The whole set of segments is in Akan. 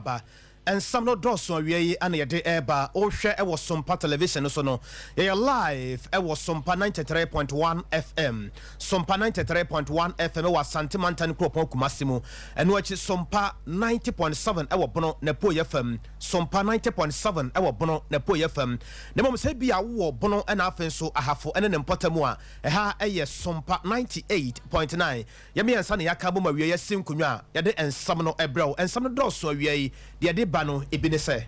ba. Nsɛm no dɔɔso awiei na yɛde reba. Wohwɛ wɔ Sompa Television no so no, yɛyɛ live wɔ Sompa ninety three point one FM. Sompa ninety three point one FM wɔ Asante Mantan Kuropɔn Kumasi mu. Ɛno akyi, Sompa ninety point seven wɔ Bono n'apueeɛ fam. Sompa ninety point seven wɔ Bono n'apueeɛ fam. Na mmom sɛ ebia wowɔ Bono na afei nso Ahafo ne ne mpɔtam a, ɛha yɛ Sompa ninety eight point nine. Yɛ mmiɛnsa na yɛaka abom awie asi nkonnwa a yɛde nsɛm no brɛ wo. Nsɛm no dɔɔso awiei yi, deɛ ɛde ba no, ebi ne sɛ.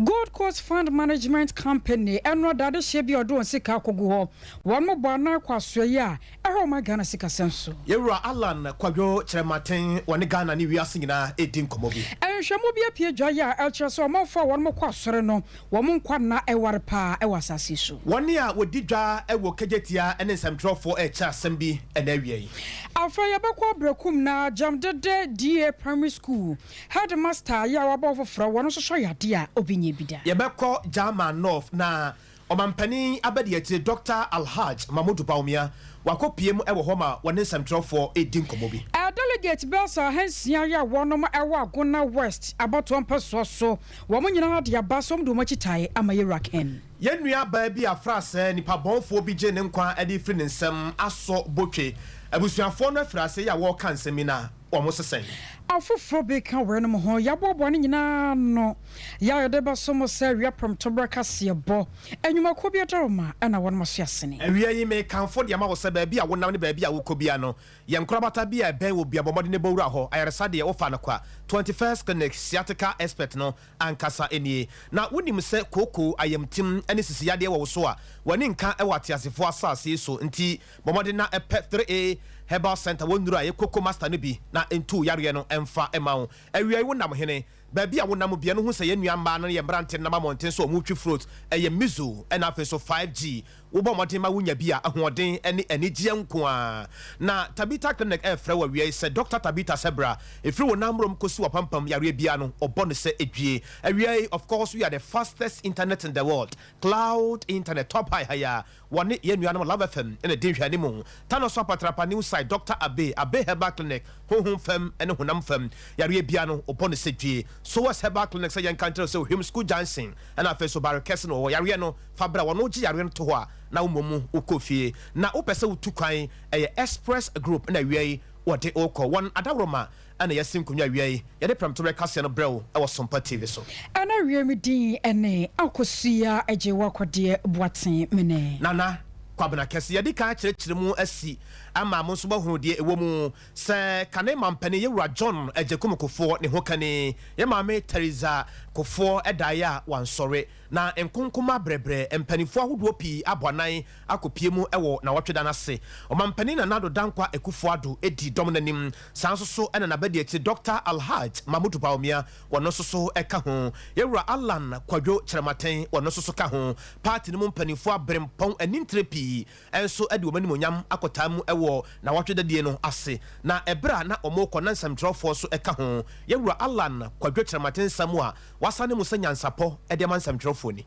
Gold Coast Fund Management Company, ɛno ɔda adehyeɛ bi a ɔde wɔn sika akɔgu hɔ. Wɔn mmobɔ anaa kɔ asoɛeɛ a ɛha wɔn ma Ghana sikasɛm so. Yɛn Wura Allan Kwadwo Kyerɛmaten, wɔne Ghana ne wiase nyinaa redi nkɔmmɔ bi. Nhwehwɛmu bi apue dwae a ɛkyerɛ sɛ ɔmanfo a wɔn kɔ asɔre no, Wɔn nkwa nna ware paa wɔ asase so. Wɔn a wɔdi dwa wɔ kagyetia ne nsɛmtwerɛfoɔ rekyerɛ asɛm bi na awiei. Afei yɛbɛkɔ Abrakum na Gyamdede DA Primary School headmaster yi a wabɔ ho foforɔ wɔn nso sɔ yadeɛ a obi nyɛ bi da. Yɛbɛkɔ German North na Ɔmampanin Abadiakyire Dɔkta Alhaj Mahmood Bawumia wakɔpue mu wɔ hɔ ma wɔne nsɛmtwerɛfoɔ redi nkɔmmɔ bi. Delegate bɛyɛ sɛ ahansia yi a wɔnom wɔ Agona West abatoɔ mpɛsoɔ so. Wɔn nyinaa de aba som de wɔn akyi tae ama Yewura Ken. Yɛn nua baa bi a fra sɛɛ nipa bɔnfoɔ bi gyee ne nkwa de firi ne nsam asɔ botwe. Abusuafoɔ no afiri aseɛ yi a wɔɔka nsɛm yi no a wɔn se sɛn? Afoforɔ bi ka weinom ho. Yɛaboaboa ne nyinaa ano yɛ a yɛde bɛso mo sɛ awia prɛmtoberɛ kaseɛbɔ nnwumakuo bi adaroma na wɔnom aso asene. Awia yi mekamfo de ama wo sɛ baabi a wonam ne baabi a wokɔ biara no Yɛ nkorabata bi a ɛbɛn wo bia bɔ mmɔden na bɔ wura hɔ. Ayaresa deɛ wofa no kwa. Twenty First Clinic sciatica expert no ankasa nie. Na wonim sɛ kooko, ayamtim, ne sisi yadeɛ wɔ wo so a, w'ani nka wɔ ateasefoɔ asase yi so. Nti bɔ mmɔden na pɛ Three A Herbal Centre wɔn nnuro a ɛyɛ koko master no bi na ntu wo yareɛ no mfa mma wo. Awiai wo nam hene. Baabi a wonam bea no hu sɛ yɛn nua mmaa no ne yɛn mmerante no nam amɔnten so a wɔretwi frot. Ɛyɛ Mizo na afei nso 5G. Wobɔ mmɔden ma wunya bi a, ahoɔden ne anigyeɛ nko ara. Na Tabitha Clinic refrɛ wo awia yi sɛ, Dɔkta Tabitha sɛ bra. Ɛfiri wo nan mmorɔm kɔsi w'apampam, yareɛ biara no, ɔbɔ no sɛ ɛdwie. Awia yi, of course, we are the fastest internet in the world, cloud internet, top high ha yi ara. Wɔne yɛn nuanom Love FM na edi nhwɛanim. Tano Soap Atrapa New Site Doctor Abe, Abe Herbal Clinic, Honhom fam ne honam fam yareɛ biara no wɔbɔ no sɛ dwie. Sowers Herbal Clinic sɛ yɛnka nkyerɛ wo sɛ Ohwim School Junction na afei nso Barre Kɛse no wɔwɔ yareɛ no fa bra wɔn gye yareɛ no to hɔ a na wo mmom wo kɔ fie na wo pɛ sɛ wo tu kwan ɛyɛ express group na awia yi wɔde wo kɔ wɔn adaworoma Ɛna yɛasi nkonnwa awia yi. Yɛde prɛmtoberɛ kaseɛ no brɛ wo wɔ Sompa TV so. Ɛna awia me din ne Akosua Agyewakwadeɛ Boateng Mene. Nana Kwabena Kɛse, Yɛadi kan akyerɛkyerɛ mu asi ama mo nso moahunu deɛ ɛwɔ mu sɛ kane mampanin yɛ Wura John Agyekum Kufoɔ ne hokani yɛ Maame Theresa Kufoɔ daeɛ a wansɔre na nkonkomaa brɛbrɛ mpaninfoɔ ahodoɔ pii abɔ anan akɔpue mu wɔ nawɔtwe da no ase. Ɔmampanin Nana Addo Dankwa Akuffo Addo di dɔm no anim. Saa nso so na n'abadiakyiri Dɔkta Alhaj Mahmood Bawumia, ɔno nso so ka ho. Yɛwura Allan Kwadwo Kyerematen, ɔno nso so ka ho. Party no mu mpanimfoɔ aberempɔn anintire pii nso de wɔn animuonyam akɔtaa mu wɔ nawɔtwe da die no ase. Na ɛberɛ a na wɔrekɔ na nsɛmtwerɛfoɔ nso ka ho. Yɛwura Allan Kwadwo Kyerematen nsɛm a wɔasane mu sɛ nyansapɔ de ama nsɛmtwerɛfoɔ ni.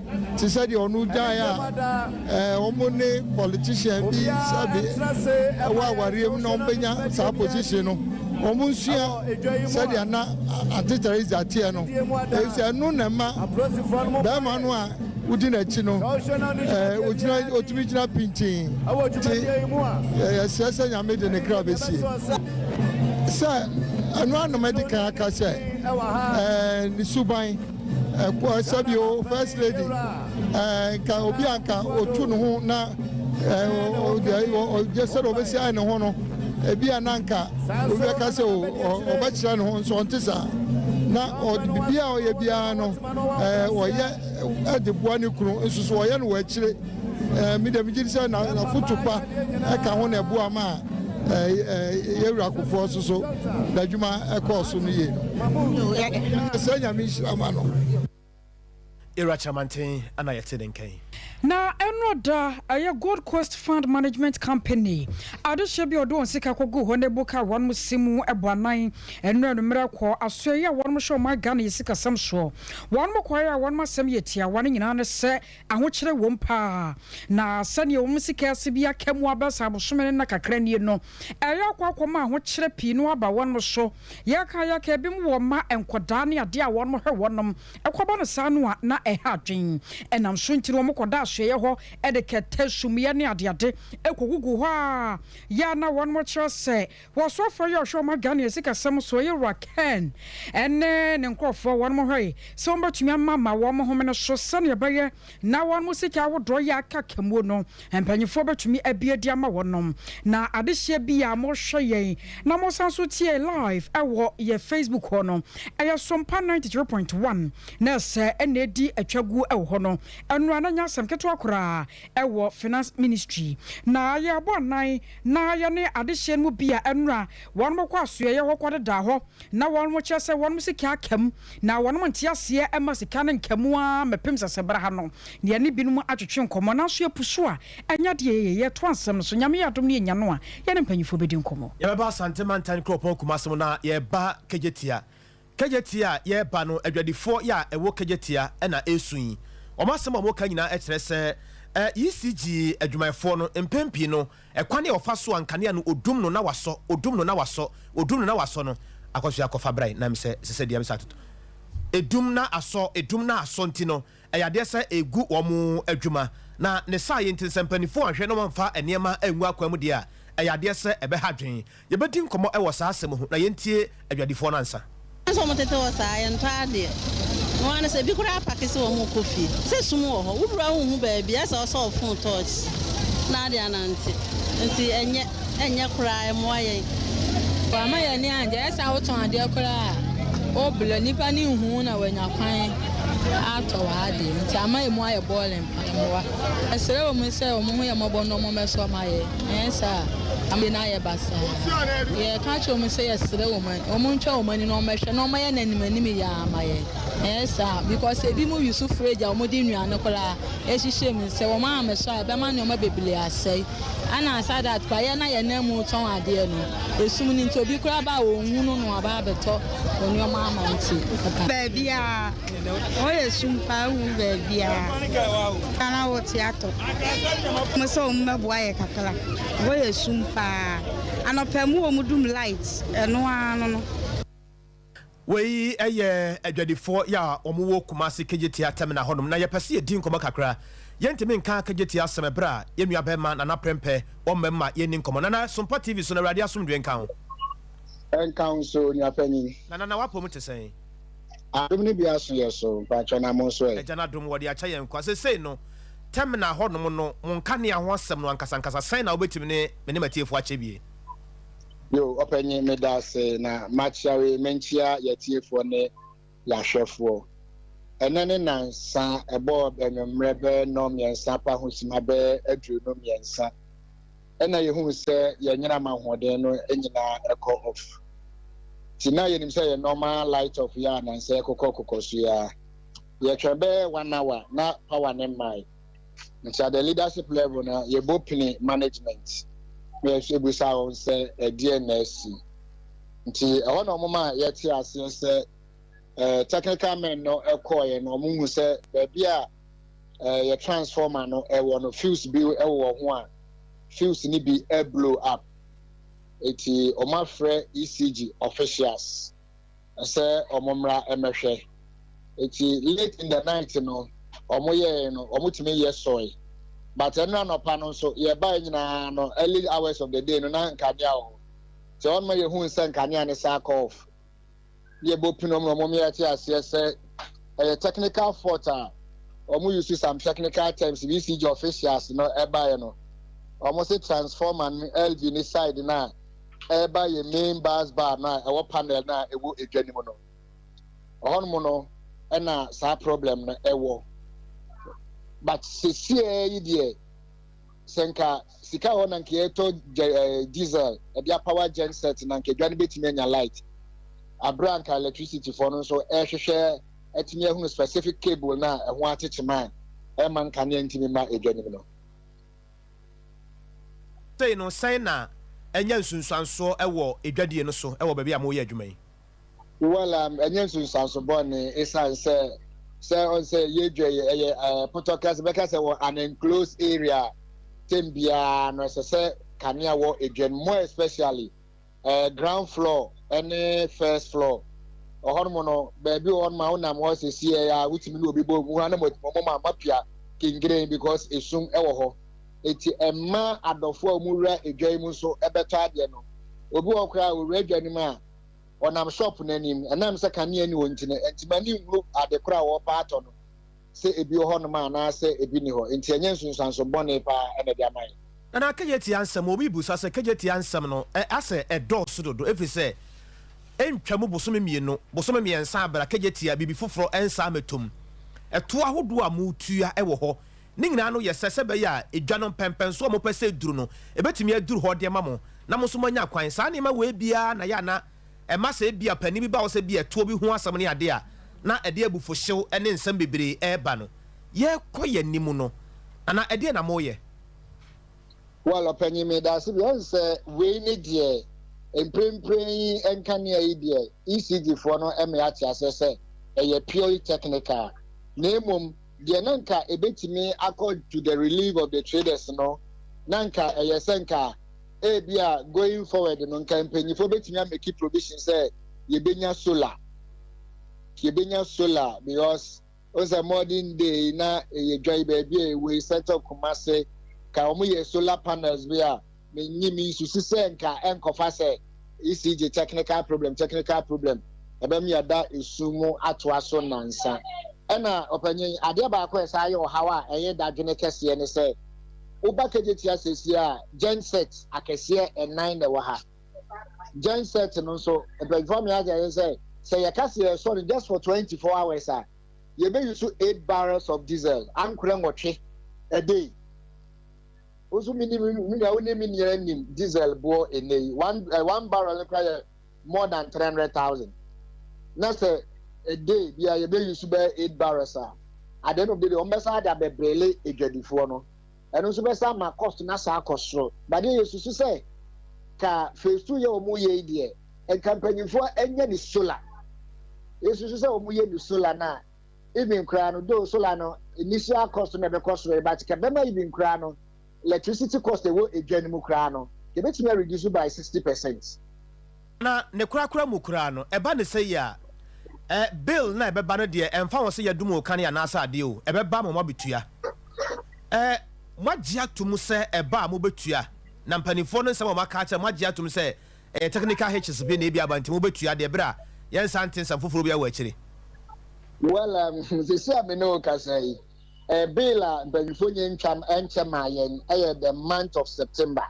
te sɛ deɛ ɔno gyae a wɔn ne politician bi sɛbe ɛwɔ awareɛ mu na wɔbɛnya saa position no wɔn nsua sɛdeɛ na ante teresa teɛ no ɛsɛ ɛno na ɛma bɛrima no a wodi n'akyi no ogyina otumi gyina pintin te ɛsɛ sɛ nyame de ne kra bɛsie sɛ ɛno anam adi kan aka sɛ ne suban Ɛkɔ ɛsɛ bi o first lady ɛɛ nka obi a nka otu ne ho na ɛɛ ɔgye sɛ na ɔbɛsi ayɛ ne ho no ebi a na nka obi bɛka sɛ o ɔbɛkyerɛ ne ho nso ɔnte saa na ɔde biribi a ɔyɛ biara no ɛɛ ɔyɛ ɛde boa ne kunu nso so ɔyɛ no wɔ akyire. Me deɛ megye di sɛ na n'afoto pa ka ho na ɛboa ma yɛwura akofoɔ so so n'adwuma ɛkɔɔ so no yie no sɛ nyame nhyira ma no Era Kyamanten ana yɛte ne nkɛn. Na ɛno da ɛyɛ Gold Coast Fund Management Company adehyɛ bi a ɔde wɔn sika kɔgu hɔ na ebu ka wɔn si mu ɛbɔ anan ɛno anummerɛ kɔ asoɛyɛ a wɔn hyɛ wɔn Ghana yɛ sikasɛm soɔ wɔn kɔɛ a wɔn asɛm yɛ tiawa ne nyinaa ne sɛ Ahokyere wom paa, na sɛnea wɔn sika sibea ka mu aba sɛ abosome ne nna kakra nie no, ɛreyɛ akɔ akɔma ahokyere pii no aba wɔn so. Yɛka yɛka, ebinom wɔ mma, nkwadaa ne adeɛ a wɔhwɛ wɔnom. Ɛkɔba no saa no a, na ɛha adwene. Ɛnam so nti no, wɔkɔda asoɛeɛ hɔ de kɛtɛ, sumiiɛ ne adeade kɔgugu hɔ a, yɛ a na wɔkyerɛ sɛ Wɔsoafoɔ yi a ɔhwɛ wɔn adwane ne sikasɛm soɔ yɛ Wura Ken ne ne nkorɔfoɔ. Wɔnom hwɛe sɛ wɔbɛtumi ama ma wɔn homene so sɛdeɛ ɛbɛyɛ na wɔnom sika ahodoɔ yi a aka kamuo no mpaninfoɔ bɛtumi abi adi ama wɔnom. Na adehyeɛ bi a mohwɛ yɛn na mosan nso tie yɛn live ɛwɔ yɛn Facebook hɔ no, ɛyɛ Sompa ninety three point one na ɛsɛ ɛna ɛdi atwa guo ɛwɔ hɔ no. Ɛno a na ɛnyɛ asɛm ketewa koraa ɛwɔ Finance Ministry. Na yɛrebɔ anan. na yɛne adehyeɛ no mu bi a ɛno a wɔnom kɔ asoɛeɛ hɔ kɔdedaa hɔ, na wɔnom kyerɛ sɛ wɔnom sika aka mu, na wɔnom nteaseɛ mma sika no nka mu ara mmɛpem sɛ sɛ berɛ ha no na yɛne binom atwetwe nkɔmmɔ, nanso yɛpu so a ɛnyɛ adeɛ a yɛyɛ, yɛtoa nsɛm no so, Nyame yɛ adom na yɛnya no a yɛne mpanyimfoɔ bɛdi nkɔmmɔ. Yɛbɛba Asante Mantan Kuropɔn Kumase mu na yɛreba Kegyetia. Kejetia a yɛreba no, adwadifoɔ yɛ a ɛwɔ Kejetia na ɛresu yi, wɔn asɛm a wɔka nyinaa kyerɛ sɛ ECG adwumayɛfoɔ no, mpɛn pii no, ɛkwan a wɔfa so a nkanea no wɔdum no na wɔasɔ, wɔdum no na wɔasɔ, wɔdum no na wɔasɔ no, akɔso yɛ akɔfa brae, na mesɛ ɛsɛ sɛ deɛ mesɛ atoto. Ɛdum na asɔ, ɛdum na asɔ nti no, ɛyɛ adeɛ sɛ ɛregu wɔn adwuma, na ne saayɛ nti no, sɛ mpanimfoɔ anhwɛ na wɔamfa nneɛma angu akwan mu deɛ a, ɛyɛ adeɛ sɛ ɛbɛha adwene. Yɛbɛdi nkɔmmɔ wɔ saa asɛm ho na yɛntie adwadifoɔ no ansa. Hwan sɛ ɔmo tete hɔ saa yɛntɔ adeɛ no ara ne sɛ ebi koraa pake sɛ ɔmo rekɔ fie sɛ sum wɔ hɔ wo wura wo nhu baabi ayɛ sɛ ɔsɔ ɔfon torch na ade anante nti ɛnyɛ ɛnyɛ koraa ɛmoa yɛn. Wama yɛn ani angye ayɛ sɛ a wotɔn adeɛ koraa wo blur nnipa no nhu wo na wanya kwan atɔ w'adeɛ nti ama emu ayɛ boring paa ɛmoa ɛsrɛ ɔmo sɛ ɔmo ho yɛ mmɔbɔ na ɔmo mmɛsɔ ma yɛn. Anyɛ saa a, amane no ayɛ basaa. Yɛka kyerɛ wɔn sɛ yɛsrɛ wɔn a, wɔntwa wɔn ani na wɔmmɛhwɛ na wɔayɛ no anim anim yɛ ara ama yɛn. Anyɛ saa a, because ebinom wi so firi agya a wɔde nnuane koraa hyehyɛ mu. Sɛ wɔammɛsɔ a, ɛbɛma nneɛma bebree asɛe. Ɛnna aside that koraa, yɛn a yɛnam mu tɔn adeɛ no, esum no nti, obi koraa ba a, ɔnhunu na waba abɛtɔ nneɛma ama nti, ɛba. Baabiara. Hɔ yɛ sum paa wohu baabiaa. Ghana hɔ te atɔ. Mo sɛ wɔn bɛboa yɛ kakra. Hɔ yɛ sum paa. Anɔpa mu wɔn dum light ɛno ara no no. Wei yɛ adwadifoɔ yɛ a wɔn wɔ Kumasi Kejetia terminal hɔ nom na yɛpɛ sɛ yɛdi nkɔmmɔ kakra. Yɛntumi nka Kejetia asɛm ɛberɛ a yɛn nua barima Nana Prempeh ɔmmam ma yɛnni nkɔmmɔ. Nana, Sompa TV so no Awurade asomdwoeɛ nka wo. Ɛnka wo nso nua panin. Na Nana w'apɔmu te sɛn? Adom no bi aso yɛ so mpakyɛ na monso ɛ. Agya no adom wɔde akyɛ yɛn kwa sesei no terminal hɔ nom no mo nkanea ho asɛm no ankasa ankasa sɛn na wobɛtumi ne me ne matiefo akyɛ bie. Yoo ɔpanyin medaase na makyea wei menkyea yatiefoɔ ne yahwɛfoɔ ɛnɛ ne nansa ɛbɔɔ anwummerɛ bɛɛ nɔn mmiɛnsa pa ho sima bɛɛ aduonu mmiɛnsa na yɛhunu sɛ yɛn nnyinam ahoɔden no nyinaa kɔ off. Nti na yɛnim sɛ yɛn nɔɔma light off yɛ a nansɛ ɛkokɔ kokɔ so yi ara. Yɛtwɛn bɛyɛ one hour na power no mmae. Nti at the leadership level no yɛbɔ pini management na yɛbisa wɔn sɛ ɛdeɛn na asi. Nti ɛhɔ na wɔma yɛte aseɛ sɛ technical men no kɔɔeɛ no wɔhunu sɛ baabi a eh, yɛ transformer no ɛwɔ eh, no fuse bi ɛwɔ ho a fuse no bi eh, blow up eti wɔn afrɛ ECG officials ɛsɛ wɔn mmra ɛmɛhwɛ eti late in the night no wɔn yɛɛ no wɔn tumi yɛ sɔe but ɛnna nɔpa no nso yɛbae nyinaa no early hours of the day no na nkanea wɔ hɔ sɛ wɔn ma yɛhu nsɛ nkanea no saa kɔɔf. deɛ bɔ pin wɔn na wɔn yɛ te aseɛ sɛ ɛyɛ technical fault a wɔn use some technical terms bi si gye officials no ɛbaeɛ no wɔn se transformer no LV ne side no a ɛreba yɛ main bus bar no a ɛwɔ panel no a ɛwɔ edwa no mu no ɔhɔnom no ɛna saa problem no ɛwɔ but sesie yi deɛ sɛ nka sika a ɔwɔ na nka yɛtɔ gya ɛɛ diesel ɛde apawa gen set na nka edwa no betumi anya light abere a nka electricity fo no nso ɛrehwehwɛ atumi ahunu specific cable na ɛho akyekye ma ɛma nkanea ntumi mma edwa no mu no. Sei no, sɛn na anya nsunsuansoɔ wɔ edwadie no so wɔ baabi a moyɛ adwuma yi? Well um, ɛnyɛ nsunsuanso bɔne esiane sɛ sɛ ɔn sɛ yɛdwa yi ɛyɛ eh, pɔtɔkra sɛ bɛka sɛ wɔ an enclosed area a tem biara no ɛsɛ sɛ kanea wɔ edwa no more especially eh, ground floor ɛne first floor ɔhɔnom no baabi wɔ hɔnom a wonam hɔ sɛsiɛ a wotumi ne obi bɔ mu hɔ na mɔtumi ma mapia kengeren because esum ɛwɔ hɔ eti ɛma adɔfo a wɔwura edwa yi mu nso ɛbɛtɔ adeɛ no obi wɔ koraa a ɔwura edwa no mu a wɔnam shop no anim. Ɛnam sɛ kanea nni hɔ nti no, ɛnti m'ani nhunu ade koro a wɔrepɛ atɔ no, sɛ ebi wɔ hɔnom anaasɛ ebi nni hɔ. Enti ɛnyɛ nsunsuanso bɔne paa na ɛde ama yɛn. Ɛna Kejetia nsɛm, obi bisa sɛ Kejetia nsɛm no asɛ ɛdɔɔso dodo efiri sɛ ɛntwam bosome mmienu, bosome mmiɛnsa abere a Kejetia biribi foforɔ nsa mmɛtɔ mu. Ɛtoɔ ahodoɔ a motua wɔ hɔ. Ne nyinaa no yɛ sɛ sɛ ɛbɛyɛ a edwa no mpɛnpɛnso a mopɛ sɛ eduru no, ebetumi aduru hɔ de ama mo, na mo nso moanya kwan. Saa nneɛma wei biara na ɛyɛ a na ɛma sɛ ebia panin bi ba hɔ sɛ bi a tuo bi ho asɛm ne ade a, na ɛde abufuhyew ne nsɛm bebree reba no. Yɛrekɔ yɛn anim no, anaa ɛdeɛn na moreyɛ? Well, ɔpanyin, meda ase bi. Ɛne sɛ wei ne deɛ mprempren yi nkanea yi deɛ ECG foɔ no ma yɛate aseɛ sɛ ɛyɛ purely technical, na mmom, Deɛ na nka ɛbɛtumi akɔ to the relief of the traders no, na nka ɛyɛ sɛ nka ebia going forward no nka mpanyinfoɔ bɛtumi ameki provision sɛ yɛbɛnya solar yɛbɛnya solar because wɔn sɛ modern day na ɛyɛ dwa yi baabi a ɛwɔ yi center of Kumasi ka wɔn yɛ solar panels bi a Menye me nsusu sɛ nka ɛnkɔfa sɛ ECG technical problem technical problem ɛbɛm yɛda esu mu atoa so nnansa. Ɛna ɔpanyin, adeɛ baako a ɛsan yɛ ɔhaw a ɛyɛ dadwene kɛseɛ ne sɛ, woba Kejetia sesie a gen set akɛseɛ ɛnan na ɛwɔ ha. Gen set no nso, mpanyinfoɔ ama yɛate aseɛ sɛ, sɛ yɛka sɛ yɛresɔ no just for 24 hours a, yɛbɛyusu eight barrels of diesel, ankorɛ nwɔtwe a day. Wo nso menim, me nua, wonim me nyinaa nim diesel boɔ ɛnɛ yi. One, eh, one barrel no kora yɛ more than 300,000. Na sɛ a day bi a yɛbɛ use bɛyɛ eight barrels a, at the end of the day, wɔn bɛsa de abɛbrele adwadifoɔ no. Ɛno nso bɛsa ama cost no asa akɔ soro. Badeɛ yɛ susu sɛ, ka phase two yɛ wɔn yɛ yi deɛ, nka mpanyinfoɔ ɛnyɛ ne solar. Yɛ susu sɛ wɔn yɛ ne solar no a, Even koraa no though solar no nni so ara cost no na ɛbɛkɔ soro yi but ka ɛbɛma even koraa no electricity cost a ɛwɔ edwa no mu koraa no ka ɛbɛtumi a reduce by sixty percent. Na ne korakora mu koraa no ɛba no sɛ yi a eh bill no a ɛbɛba no deɛ ɛmfa ho sɛ yɛadum wo kane anaasɛ adeɛ o ɛbɛba ma moabɛtua eh moagye atom sɛ ɛba a mobɛtua na mpaninfoɔ no nsɛm a wɔaka akyerɛ moagye atom sɛ Ɛyɛ technical hitches bi na ebia aba nti mo bɛtua deɛ berɛ a yɛn nsa nte nsɛm foforɔ biara wɔ akyire. Well um sɛsi a me ne wo kasa yi eh bill a mpanyinfoɔ nyɛ ntwam ɛnkyɛ maa yɛn ɛyɛ the month of September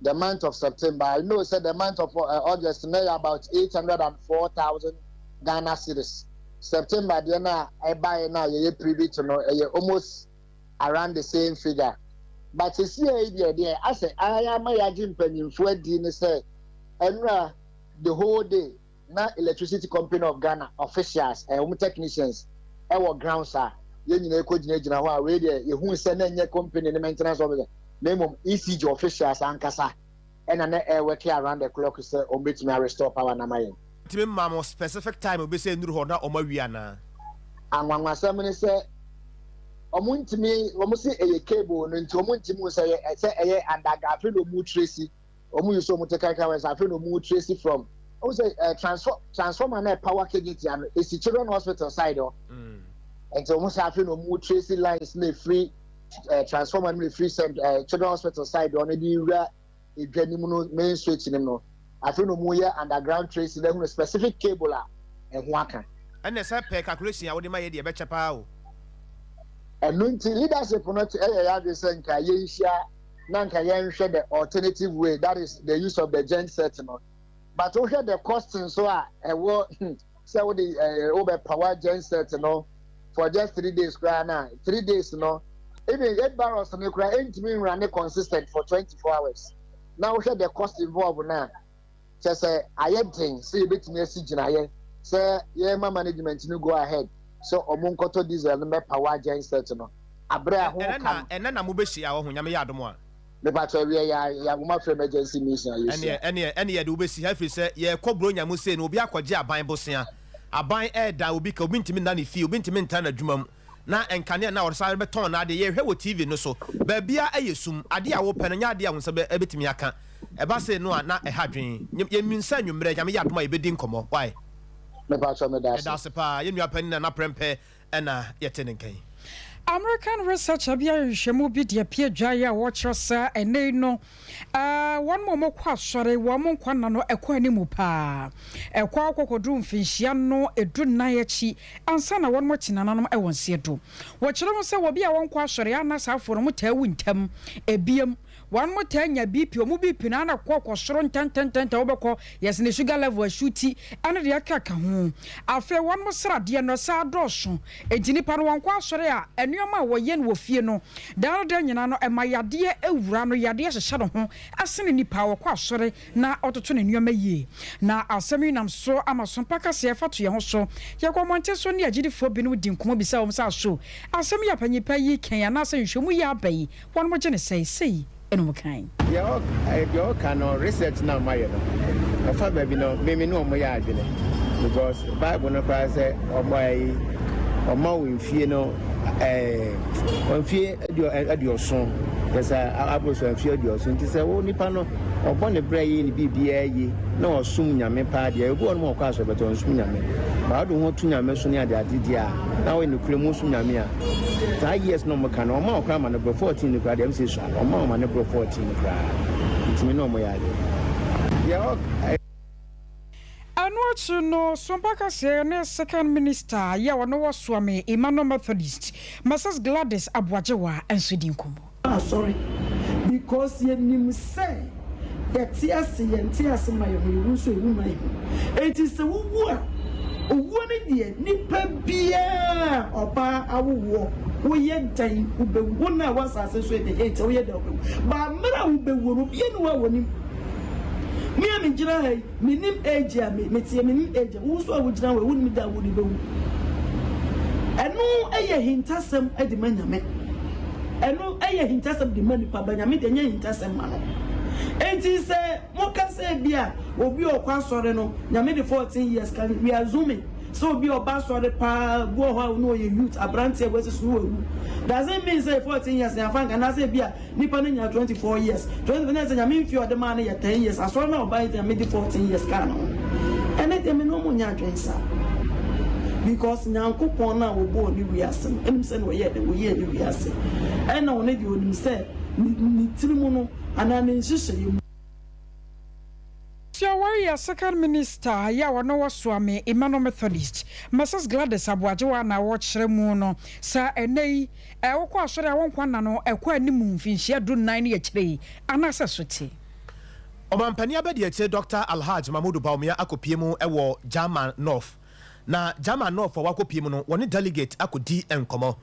the month of September I know sɛ the month of eh August na ɛyɛ about eight hundred and four thousand Ghana cedis September deɛ na ɛbaeɛ no a yɛyɛ privy to no ɛyɛ almost around the same figure but sesiei deɛ deɛ asɛ ahan ama yɛagye mpanyinfoɔ adi ne sɛ ɛnora the whole day na electricity company of Ghana officials ɛyɛ wɔn technicians ɛwɔ grounds a yɛn nyinaa kɔ gyinagyina hɔ a wei deɛ yɛhuu sɛ na ɛnyɛ company ne maintenance officer na mmom ECG officials ankasa. ɛna na ɛyɛ working around the clock sɛ wɔn bɛtumi a restore power no ama yɛn. Tumi ma mo specific time obi sɛ nnuru hɔ na wɔn awie anaa? Anwanwasɛm ne sɛ wɔn ntumi, wɔn se ɛyɛ cable no nti wɔn ntumi hu sɛ ɛyɛ sɛ ɛyɛ underground afei na wɔn tracy, wɔn yi so wɔn te kankan wɔn sɛ afei na wɔn tracy from wɔn sɛ ɛɛ transform transformer na power kegate ano esi children hospital side hɔ, nti wɔn sɛ afei na wɔn tracy lines na efiri. eh, transformer no mefiri sɛ eh, children hospital side ɔno de wura edwa no mu no main switch no mu no afei na ɔmu yɛ underground trace na ehunu specific cable a ɛho aka ɛnna sɛ pɛ calculation a wode ma yɛ deɛ ɛbɛkyɛ paa o ɛno nti leadership no te ɛyɛ yɛ adwene sɛ nka yɛnhyia na nka yɛnhwɛ the alternative way that is the use of the gen set no but wohwɛ the cost nso a ɛwɔ hmm, Sɛ wo de ɛɛ wo bɛ power genset no for just three days koraa na three days no even eight barrels no koraa ɛntumi nwura ne consistent for twenty four hours na wo hwɛ the cost involved na kyɛ sɛ ayɛ den sɛ yɛbɛtumi asi gyinaeɛ sɛ yɛma management no go ahead sɛ ɔmo nkɔtɔ diesel no mɛ power genset no abrɛ a ho ka no. Ɛnɛ na mo bɛ hyia ɔho nyame yɛ adom a. Mepakyɛ ɛwiɛ yɛ a yɛ nwoma frɛ emergency meeting a yɛ sua. Ɛneɛ ɛneɛ ɛneɛ yɛde wo bɛ si ha ɛfiri sɛ yɛ kɔ bronya mu sei no obi akɔ gye aban bosea aban ɛɛda obi ka obi ntumi nna ne fie obi ntumi ntra na dwuma mu na nkanea nna ɔde sare bɛ tɔn na adeɛ yɛ hwɛ wɔ TV no so baabiaa ɛyɛ sum adeɛ a wo pɛ no nyɛ adeɛ a wo nsa bɛ ɛbɛtumi aka ɛba sei no a na ɛha dwen nyɛ yɛ nsa anwummerɛ nyame yɛ adom a yɛ bɛ di nkɔmɔ wae. Mepakyɛ meda ase. Yɛda ase paa yɛn nua panin nana prɛmpɛ na yɛte no nka yi. American Research a bia nhwehwɛmu bi de apie adwaeɛ a wɔkyerɛ sɛ ɛnnɛ yi no wɔnom a wɔkɔ asɔre wɔn mo nkwa nna no ɛkɔ anim paa. Ɛkɔ ara kɔkɔduru mfinhyia no du nnan akyi ansa na wɔnom te nananom wɔ nseɛ do. Wɔkyerɛ ho sɛ wɔbi a wɔnkɔ asɔre a na saa afoɔ no wɔtaa wu ntɛm. Ebiem. Wɔnom taa nya BP, wɔn BP no ara kɔ kɔ soro ntɛntɛntɛntɛn, wobɛkɔ yes ne sugar level ɛsu ti ɛne deɛ ɛka ka ho. Afei wɔnom sradeɛ no ɛsaa dɔɔso, enti nipa no wɔnkɔ asɔre a nnoɔma a wɔyɛ no wɔ fie no daa no daa nyinaa no ɛma yadeɛ ɛwura no, yadeɛ hyehyɛ ne ho sene nipa a ɔkɔ asɔre na ɔtoto ne nnoɔma yie. Na asɛm yi nam so ama som pa kaseɛ ɛfa to yɛn ho so. Yɛkɔ mmɔnten so ne agyidifoɔ binom di nkɔmmɔ bisa wɔn sɛ aso asɛm yi a panyin pa yi reka yi anaasɛ nhwɛmu yi aba yi Wɔn mo gye no sɛe sei ɛna ɔmo kan. Deɛ ɔka no research na mayɛ no ɛfa baabi no me me ne ɔmo yɛ adwene because bible no koraa sɛ ɔmo ayi ɔma wo mfie no ɛɛ mfie aduɔson yɛsɛ aboroso mfie aduɔson nti sɛ wo nipa no ɔbɔ ne brɛ yɛ ne biribiara yi na ɔsom nyame paa deɛ ebi wɔn mu ɔkɔ asɔrɔbɛtɔ nsum nyame baa do ho to nyame so ne ade ade deɛ a na wɔyɛ ne kura mu som nyame a Saa years na ɔmo ka no, ɔmo maa ɔkora ma no boro fourteen no koraa deɛ ɛmsɛ sua no, ɔmo maa ɔma no boro fourteen koraa, nti me ne ɔmo yɛ ade. Deɛ ɔk. Ɛno akyi no, Sompa Kaseɛ ne Second Minister yɛ ɔno wɔ Suame Emmanuel Methodist, Mrs Gladys Aboagyewa nso di nkɔmmɔ. asɔre because yɛnim sɛ yɛte ase yɛn te ase ma yɛn ho yɛwu nso yɛwu ma yɛn ho enti sɛ wowu a owuo no deɛ nipa biara a ɔbaa awo woɔ woyɛ dɛn wobɛwu wo na a wɔ asase so ɛde ɛnkyɛ woyɛ dɛn wobɛwu baa mmerɛ a wobɛwuo no obiara ni hɔ a wɔnim me a megyina ha yi Menim age a me teɛ menim age a wo nso a wo gyina hɔ yi wonim da a wo de bɛ wu ɛno yɛ ahintasɛm de ma Nyame ɛno yɛ ahintasɛm de ma nipa ba Nyame deɛ nyɛ ahintasɛm ma no enti sɛ mo ka sɛ bi a obi a ɔkɔ asɔre no Nyame de 14 years ka we are zooming sɛ obi a ɔba asɔre paa bi wɔ hɔ a ɔno ɔyɛ youth aberanteɛ wɔ asi so no wawu doesn't mean sɛ 14 years yɛn afa nka anaasɛ bi a Nipa no nyaa twenty four years twenty four na ɛsɛ nyame nfi a ɔde maa no yɛ ten years asɔre na ɔba yi ti nyame di fourteen years kaa no ho ɛnɛ deɛ me ne ɔmo nyɛ adwene sa because nyankopɔn no a ɔbɔɔ ne wiase no ɛnim sɛ na ɔyɛ de ɔyɛ ne wiase ɛna ɔne deɛ ɔnim sɛ ne tiri mu no anaa ne nhyehyɛ yɛ mu. Tia Warrior second minister yɛ a ɔno wɔ Suame Emmanuel Methodist, Mrs Gladys Aboagyewa na ɔkyerɛ mu no saa ɛnɛ yi Ɛ? Wokɔ asɔre a wonkɔ nna no ɛkɔ anim mfinhyia du nnan ne akyire yi anaasɛ so te. Ɔmampanin Abadiakyire Dɔkta Alhaj Mahmudu Bawumia akɔpue mu wɔ German North. Na German North a wakɔpue mu no, wɔne delegate akɔdi nkɔmmɔ.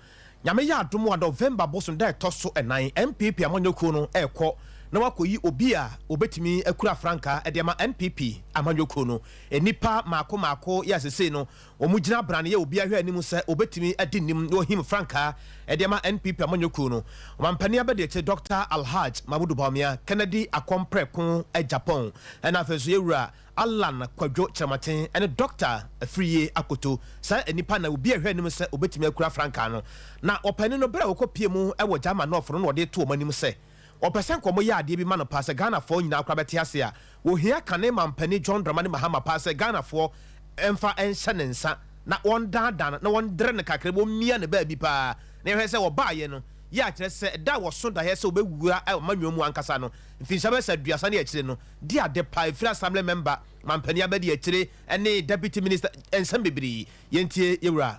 Nyame yɛ adom a, November bosom da ɛtɔ so nnan, NPP amanyɔkuo no rekɔ na wakɔyi obi a ɔbɛtumi akura frankaa de ama NPP amanyɔkuo no. Nnipa mmaako mmaako yɛ a sesei no Wɔgyina brane yɛ obi ahwɛ anim sɛ wɔbɛtumi adi nnim na wɔhim frankaa de ama NPP amanyɔkuo no ɔmampanin abadiakyire Doctor Alhaj Mahmudu Bawumia, Kennedy Akɔm Prɛko Agyapong, ɛna afei nso Yɛwura Allan Kwadwo Kyerɛmaten ne Doctor Afiriye Akoto. Saa nnipa nnan obi ahwɛ anim sɛ wɔbɛtumi akura frankaa no. Na ɔpanin no berɛ a wɔkɔpie mu wɔ Gyama Nɔɔfo no na wɔde to wɔn anim sɛ. Ɔpɛ sɛ nkɔmɔ yɛ adeɛ bi ma no paa sɛ Ghana fɔɔ nyinaa koraa bɛte ase a wɔhia kane mampanin John Dramani Mahama paa sɛ Ghana foɔ nfa nhyɛ ne nsa na wɔn daadaa no na wɔn dere no kakra bi wɔn mia no baabi paa na yɛhwɛ sɛ ɔbaa yɛ no yɛ a kyerɛ sɛ da a wɔso daeɛ sɛ ɔbɛ wura amanyɔɔ mu ankasa no mfinhyia bɛyɛ sɛ aduasa ne akyire no di ade paa ɛfiri assembly member mampanin abɛdi akyire ne deputy minister nsɛm bebree yɛntie yɛwura.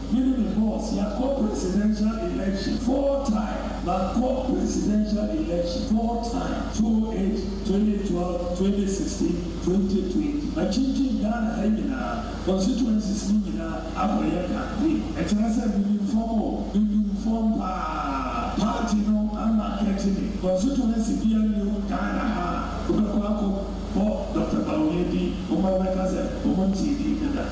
Him ne boss yakɔ presidential election four time makɔ presidential election four time two oh eight twenty twelve twenty sixteen twenty twenty matwintwin Ghana ha nyinaa constituencies no nyinaa akɔyɛ campaign ɛkyerɛ sɛ minim fam o minim fam paa party no a market me constituency bia nni hɔ Ghana ha a wobɛkɔ akɔ bɔ Doctor Bawumia din wɔn a bɛka sɛ wɔn ntee din no da.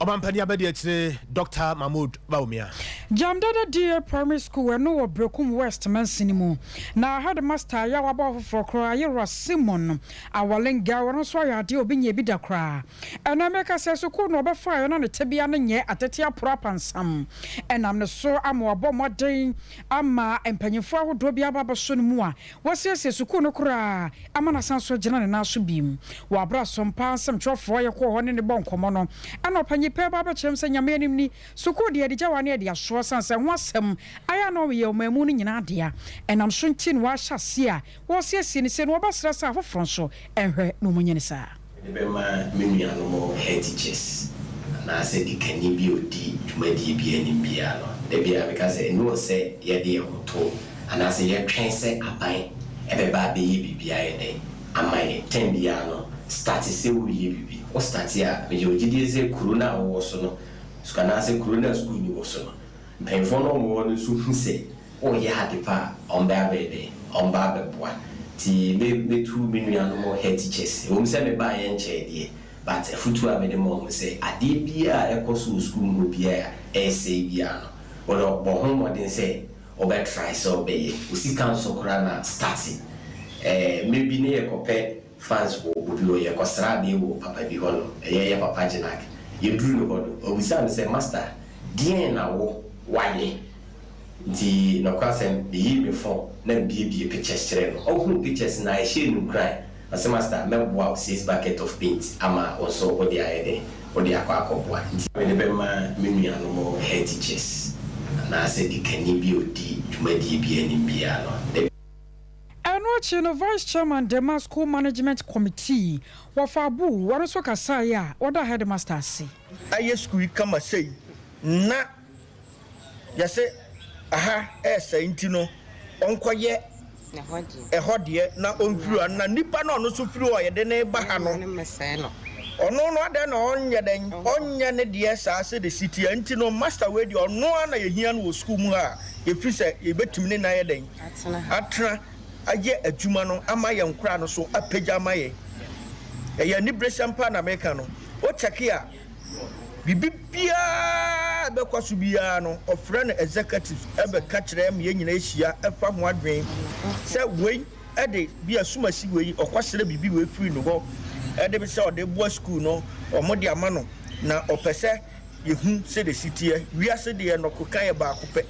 Ɔmampanin abadiakyire Dɔkta Mahmood Bawumia. Gyamdada DA Primary School ɛno wɔ Berekum West mansini mu na Headmaster a yɛawa bɔ ɔfoforɔ koraa Ayerwa Simon Awalenga ɔno nso ayɛ adeɛ a obi nyɛɛ bi da koraa ɛnɛ meka sɛ sukuu no ɔbɛfaeɛ na ne tebea no nyɛ atete aporo apansam ɛnam ne so ama wabɔ mmɔden ama mpanyinfoɔ ahodoɔ bi aba abɛso no mu a Wɔasiesie sukuu no koraa ama no asan so agyina ne nan so bio. Wɔ bere a Sompa nsɛmtwerɛfoɔ yɛ kɔɔ hɔ ne no bɔɔ nkɔmmɔ no, ɛna ɔpanyin pɛ ba abɛkyerɛ me sɛ Nyame anim ni, sukuu deɛ yɛde gya wɔ ha na yɛde asoa ɛsiane sɛ ɛho asɛm ayɛ a na ɔyɛ ɔman mu no nyinaa dea ɛnam so nti na wɔahyɛ aseɛ a wɔresiesie no sei na wɔbɛsrɛ sɛ afoforɔ nso nhwɛ na wɔnyɛ no saa. Mede bɛma me nuanom headteachers anaasɛ dikanni bi a odi dwumadie bi anim biara no. Da biara meka sɛ, ɛnni hɔ sɛ yɛde yɛn ho to anaasɛ yɛtwɛn sɛ aban bɛba abɛyɛ biribi ayɛ dɛn ama yɛn. Tɛm biara no, starte sɛ woreyɛ biribi. Wo starte a, mewɔ gyedie sɛ kuro no a wowɔ so no, anaasɛ kuro no a sukuu nni wo so no, Mpanyimfoɔ no a wɔwɔ hɔ no nso hu sɛ woreyɛ ade pa a, wɔbɛ abɛyɛ dɛn? Wɔba abɛboa. Nti me metu me nuanom head teachers. Ɛwɔ mu sɛ me baeɛ nkyɛɛ deɛ, but afutuo a me de ma wɔn sɛ, adeɛ biara a ɛkɔ so wɔ sukuu mu hɔ biara a ɛresɛe biara no, wo no bɔ ho mmɔden sɛ wobɛ try sɛ wobɛyɛ. Wo sika nso koraa na starte. Ɛɛ mmerɛ bi ne yɛkɔpɛ France wɔ obu bi hɔ, yɛkɔsraa bɛ wɔ papa bi hɔ no, ɛyɛ yɛ papa Gyenac. Yɛduruu ne hɔ no, ɔbisaa me sɛ, Masta, deɛn na wo wayɛ? Nti, nɔkorasɛm, meyii me fon na mbiebie pictures kyerɛɛ no. Ɔhuu pictures no a, ɛhyɛɛ no nkuran. Ɔse, Masta, mɛboa wo six bucket of paint ama wo nso wode ayɛ dɛn? Wode akɔ akɔboa. Nti. Mede bɛma me nuanom head teachers anaasɛ dikanni bi a ɔdi dwumadie bi anim biara no. Ɛno akyi no Vice Chairman Dema School Management Committee, wɔfa Abu, wɔno nso kasaeɛ a ɔda Headmaster ase. Ayɛ sukuu yi kama sei na yɛse aha ɛɛsɛe nti no ɔnkɔyɛ ɛhɔ deɛ na ɔnhwiri ano na nnipa no a ɔno nso firi hɔ a yɛde no reba ha no ɔno no adɛn na ɔnyɛ dɛn ɔnyɛ ne deɛ saa sɛdeɛ ɛsi teɛ nti no Master wei deɛ ɔno ara na yɛhia no wɔ sukuu mu ha a yɛfiri sɛ yɛbɛtumi ne no ayɛ dɛn atena ha. Atena ayɛ adwuma no ama yɛn koraa no so apagya ama yɛn. Ɛyɛ aniberesɛm paa na meka no. Wo kyɛke a, biribi biara a ɛbɛkɔ so biara no, ɔfrɛ no executive bɛka kyerɛ ma yɛn nyinaa hyia fa ho adwene sɛ wei de bi a sum asi wei, ɔkɔsrɛ biribi wei firi ne hɔ de bi sɛ ɔde boa sukuu no, wɔde ama no na ɔpɛ sɛ yɛhu sɛdeɛ ɛsi teɛ. Wiase deɛ nnɔkoka yɛ baako pɛ.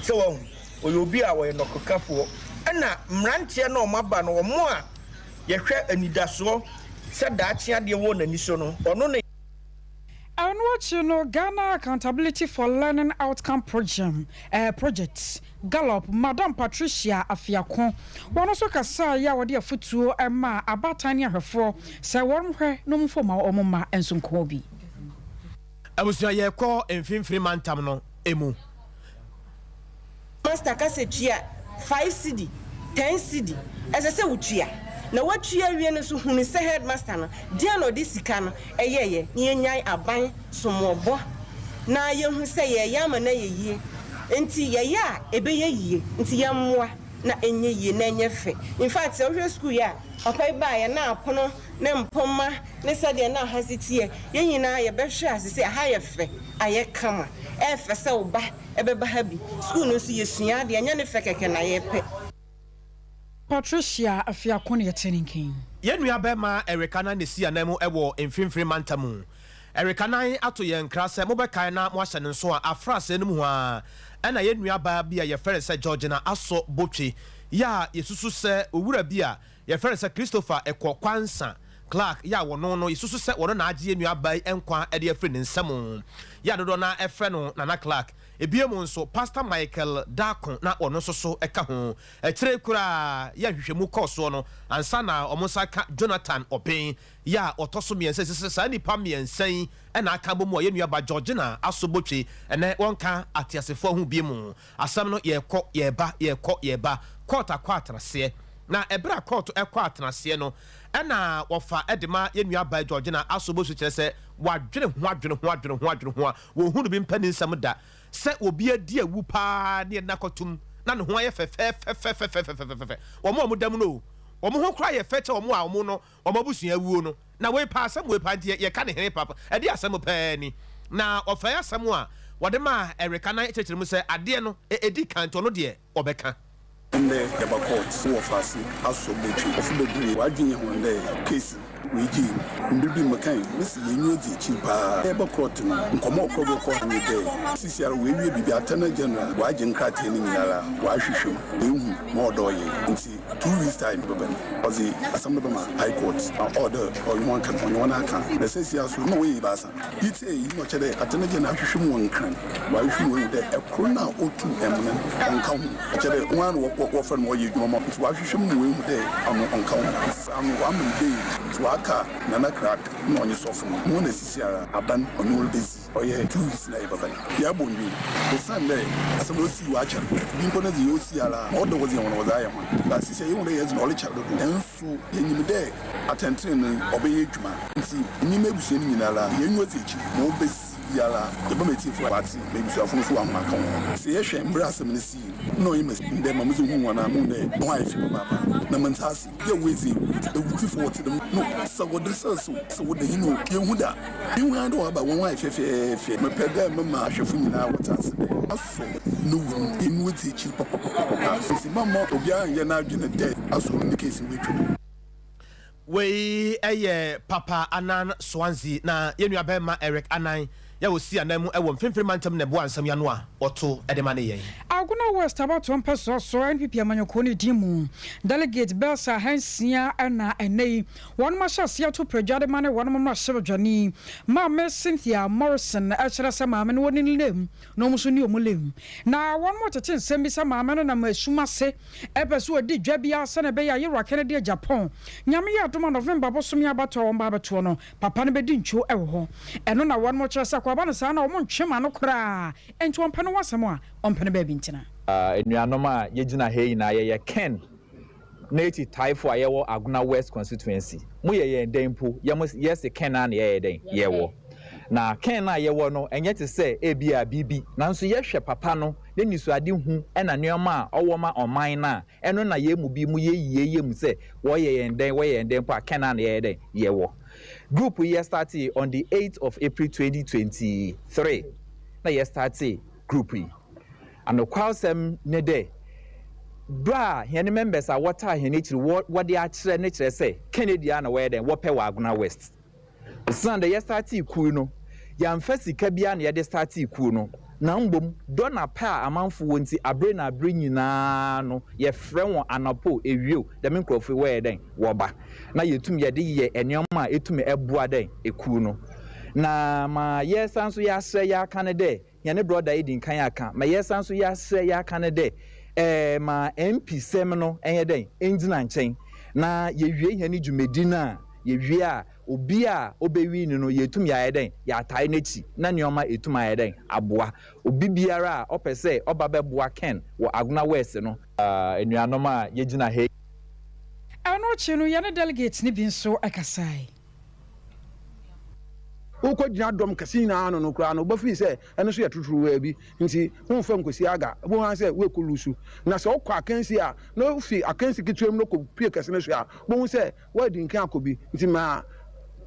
So wahu? Ɔyɛ obi a ɔyɛ nɔkekafoɔ. Ɛna mmeranteɛ no a wɔaba no, wɔn a yɛhwɛ anidasoɔ sɛ daakye adeɛ wɔ wɔn ani so no, ɔno ne. Ɛno akyi no, Ghana Accountability for Learning Outcome Program, eh, Project, Gallup, Madam Patricia Afiako, wɔn nso kasaeɛ a wɔde afotuo maa abaatan ne ahwɛfoɔ sɛ wɔnhwɛ na wɔmfa wɔn mma wɔn mma nso nkɔɔ bi. Abusua yɛ kɔ mfinfini mantam no mu. Pastor ka sɛ tua five cedi, ten cedi, ɛsɛ sɛ wo tua. Na wa tua awie no nso hunu sɛ headmaster no deɛn na ɔde sika no yɛeɛ. Na yɛ nyae aban som wɔ bɔ na yɛ hu sɛ yɛ yɛ ama no ayɛ yie nti yɛ yɛ a ɛbɛ yɛ yie nti yɛ mmoa na ɛnyɛ yie na ɛnyɛ fɛ. Infact sɛ wo hwɛ school yi a papa yi baeɛ na apono ne mpomma ne sɛdeɛ na ha si teɛ, yɛn nyinaa yɛbɛhwɛ ase sɛ ha yɛ fɛ, ayɛ kama, ɛyɛ fɛ sɛ wo ba bɛba ha bi. Sukuu no nso, yɛsua adeɛ, ɛnyɛ ne fɛ kɛkɛ na yɛpɛ. Patricia Afiako na yɛte ne nka yi. Yɛn nuabarima Eric Anan na ɛsi anan mu wɔ Mfimfini Mantam mu. Eric Anan ato yɛn nkra sɛ mobɛkae na moahyɛ no nso a afra asɛe no mu hɔ ara na yɛn nuabaa bi a yɛfrɛ no sɛ Georgina Aso Botwe yi a yɛsusu sɛ owura bi a Yɛfrɛ no sɛ Christopher Ekwoansah Clarke, yɛ a wɔno no yɛsusu sɛ wɔno na agye yɛn nua baa yi nkwa de afiri ne nsam, yɛ a dodoɔ no ara frɛ no Nana Clarke. Ebiem nso, Pastor Michael Darko na wɔno nso so ka ho. Akyire yi koraa, yɛ a nhwehwɛmu kɔɔ soɔ no, ansa na wɔn nsa aka Jonathan Obeng, yɛ a ɔtɔ so mmiɛnsa, yɛsusu sɛ saa nnipa mmiɛnsa yi na aka abɔ mu a yɛn nua ba Georgina Aso Botwe, ɛnnɛ wɔnka ateasefoɔ ho bio. Asɛm no yɛɛkɔ yɛɛba, yɛɛkɔ yɛɛba, kɔɔt akɔ atenaseɛ. Na ɛberɛ a kɔɔt kɔ atenaseɛ no, ɛna wɔfa de ma yɛn nua Abai Georgina Aso Bosu kyerɛ sɛ wɔadwene ho adwene ho adwene ho adwene ho a wɔnhunu bi mpanin nsɛm da sɛ obi adi awu pa ara ne yɛn nna kɔtom na ne ho ayɛ fɛfɛɛfɛfɛfɛfɛfɛfɛfɛfɛ wɔn a wɔda mu no o wɔn ho koraa yɛ fɛ kyɛ wɔn a wɔn no wɔn abusua awuo no. Na wei paa asɛm wei paa nti yɛ yɛka ne hene papa ɛde asɛm paa ni. Na ɔfɛɛ asɛm a wɔde maa Erika na ɛkyerɛkyerɛ mu sɛ adeɛ no ɛ ɛdi kan nti ɔno deɛ ɔbɛka. Ndɛ yɛba court wɔ faase asɔ bɛtwe ɔfo bebree w'adwen yɛ hɔn dɛ case wei gyee mu mber bi mekãe mese yɛn enyi edzi ekyir paa yɛreba court no nkɔmbɔ a ɔkɔr do kɔ ha nye dɛ sisiara oewie biribi attorney general ɔagye nkrataa no nyinara ɔahwehwɛ mu oehu ma ɔdɔɔ yɛn ntsi Two weeks time bɛba no ɔdze asɛm no bɛma High Court na ɔwɔ dɛ ɔnye hɔn ka no, ɔnye hɔn akã. Na seseiara so nna wɔyɛ ebiasa. Iyi tse eyi na ɔkyerɛ dɛ Attorney General ahwehwɛ mu wɔ nkran. Ɔahwehwɛ mu ehu dɛ kor no a otu emona no ɔnnka ho. Ɔkyerɛ dɛ woana na wɔfrɛ no ma ɔyɛ edwuma ma wo ntsi ɔahwehwɛ mu ma oehu dɛ ɔno ɔnnka ho. Ɔfaa no ɔama no bail ntsi ɔaka Nana Crack na ɔnye sɔfo no, na hɔn esisi ara aban ɔnye hɔn rebedzi. Ɔyɛ two weeks na yɛ papa no yɛabɔ ndwin osiandɛ asɛm a osii wɔ akyɛr bi mpo no dze osi ara a ɔdɔ hɔn dze hɔn wɔdze ayɛ hɔn but sisiɛ yehu dɛ yɛdze no ɔrekyɛr dodow nso yenyim dɛ atsɛntsenenee ɔbɛyɛ edwuma ntsi menye m'ebusua no nyinara yɛnye odzi ekyir ma obesi biara yɛbɛma etsiefo a wɔatse ma ebusuafo no so wɔahom akã hɔn ho. Sɛ yɛhwɛ mber a asɛm no sii no nna ɔyɛ me dɛ ma medze ohun hɔn a muhun dɛ hɔn ayɛ fi papaapa na menntse ase. yɛ wedze ewudzi fo wɔtse dɛm no sɛ wɔda san so sɛ wɔda yin o yennhu da nnhu ara dɛ wɔaba wɔn ho ayɛ fɛfɛɛfɛ mepɛ dɛ mema ahwɛfo nyinaa wɔtse ase dɛ Asɔr no wu no inu edzi ekyir papapapapa ntsi mamma obiara nnyɛ n'adwen dɛ Asɔr no ne case no woetwa mu. Wei yɛ Papa Annan Swansea na yɛn nuabarima Eric Annan Yɛ a ɔsi anan mu wɔ Mfimfini Mantam na ɛboa nsɛm yi ano a wɔto de ma ne yɛn. Agona West abatoɔ mpɛsoa so NPP amanyɔkuo no din mu delegate bɛɛsa ahansia na ɛnnɛ yi wɔnom ahyɛ aseɛ ato pradwa de ma ne wɔnom mmarahyɛbadwani Maame Cynthia Morrison ɛkyerɛ sɛ maame no wɔne no lem na wɔn nso ne wɔn lem na wɔnom retete nsɛm bi sɛ maame no nam ɛsum ase ɛpɛ sɛ ɔdi dwa bi ara sɛnea ɛbɛyɛ a Yero Akenede Agyapong Nyame yɛ adom a November bosome abatoɔ a wɔn ba abɛtoɔ no Papa no bɛdi ntwo wɔ hɔ. Ɛno na wɔnom kyerɛ sɛ akwaaba no saa na wɔn ntwe ma no koraa. Enti ɔmpɛ no w'asɛm a, ɔmpɛ no baabi ntena. Anuanom a yɛgyina ha yi nyinaa yɛyɛ Ken ne akyitaefo a yɛwɔ Agona West Constituency. Mo yɛ yɛn dɛn mpo? Yɛm yɛse Ken ara na yɛyɛ dɛn? Yɛwɔ. Na Ken a yɛwɔ no ɛnyɛ te sɛ ebia biribi. Nanso yɛhwɛ papa no ne nisuade hu ɛna nneɛma a ɔwɔ ma ɔman no a, Ɛno na yɛn mu bi mu yɛ yie yɛ mu sɛ wɔyɛ yɛn dɛn wɔyɛ yɛn dɛn mpo a Canaan na yɛyɛ dɛn yɛwɔ. Group yi yɛ startee on the eighth of April twenty twenty three na yɛ startee group yi. Anokwalsɛm ne dɛ berɛ a hɛn members a wɔtaa hɛn akyiri wɔ wɔde akyerɛ ne kyerɛ sɛ Kennedy a na wɔyɛ dɛn wɔpɛ wɔ Agona West. Osian dɛ yɛstartee kuw yi no, yɛammfa sika biara na yɛdze startee kuw no, na mbom dɔ na pɛ a amamfo wɔ ntsi, aber na aber nyina no yɛfrɛ hɔn anapa o, ewia o, dɛm nkorɔfo yi wɔyɛ dɛn? Wɔba, na yetum yɛdze yɛ ndzɛmba a etum boa dɛn? Kuw no. Na ma yɛsan so yɛaserɛ yɛakã no dɛ, Hɛn brɔda edzi nkan akã ma yɛsan so yɛaserɛ yɛakã no dɛ, Eh, ma MP sɛm no nyɛ dɛn, endzina nkyɛn, na yewie hɛn dwumadzi no a, yewie a, obi a obewin no no yeetum yɛayɛ dɛn, yɛatae n'ekyir na ndzɛmba eetum ayɛ dɛn, aboa. Obi biara a ɔpɛ sɛ ɔba bɛboa Ken wɔ Agona West no, enuanom a yegyina ha yi. Ɛno akyi no, yɛne delegates no bi nso kasae. Wokogyina dɔm kɛse nyinaa ano no koraa no, wobɛfiri sɛ ɛno nso yɛ tuturuwaa bi. Enti womfa nkɔsi aga. Wobɛhu ara sɛ worekɔ lusu. Na sɛ wokɔ akansi a, na wofi akansi ketewa mu na wokɔpue kɛse no so a, wobɛhu sɛ woadi nkan akɔ bi. Enti ma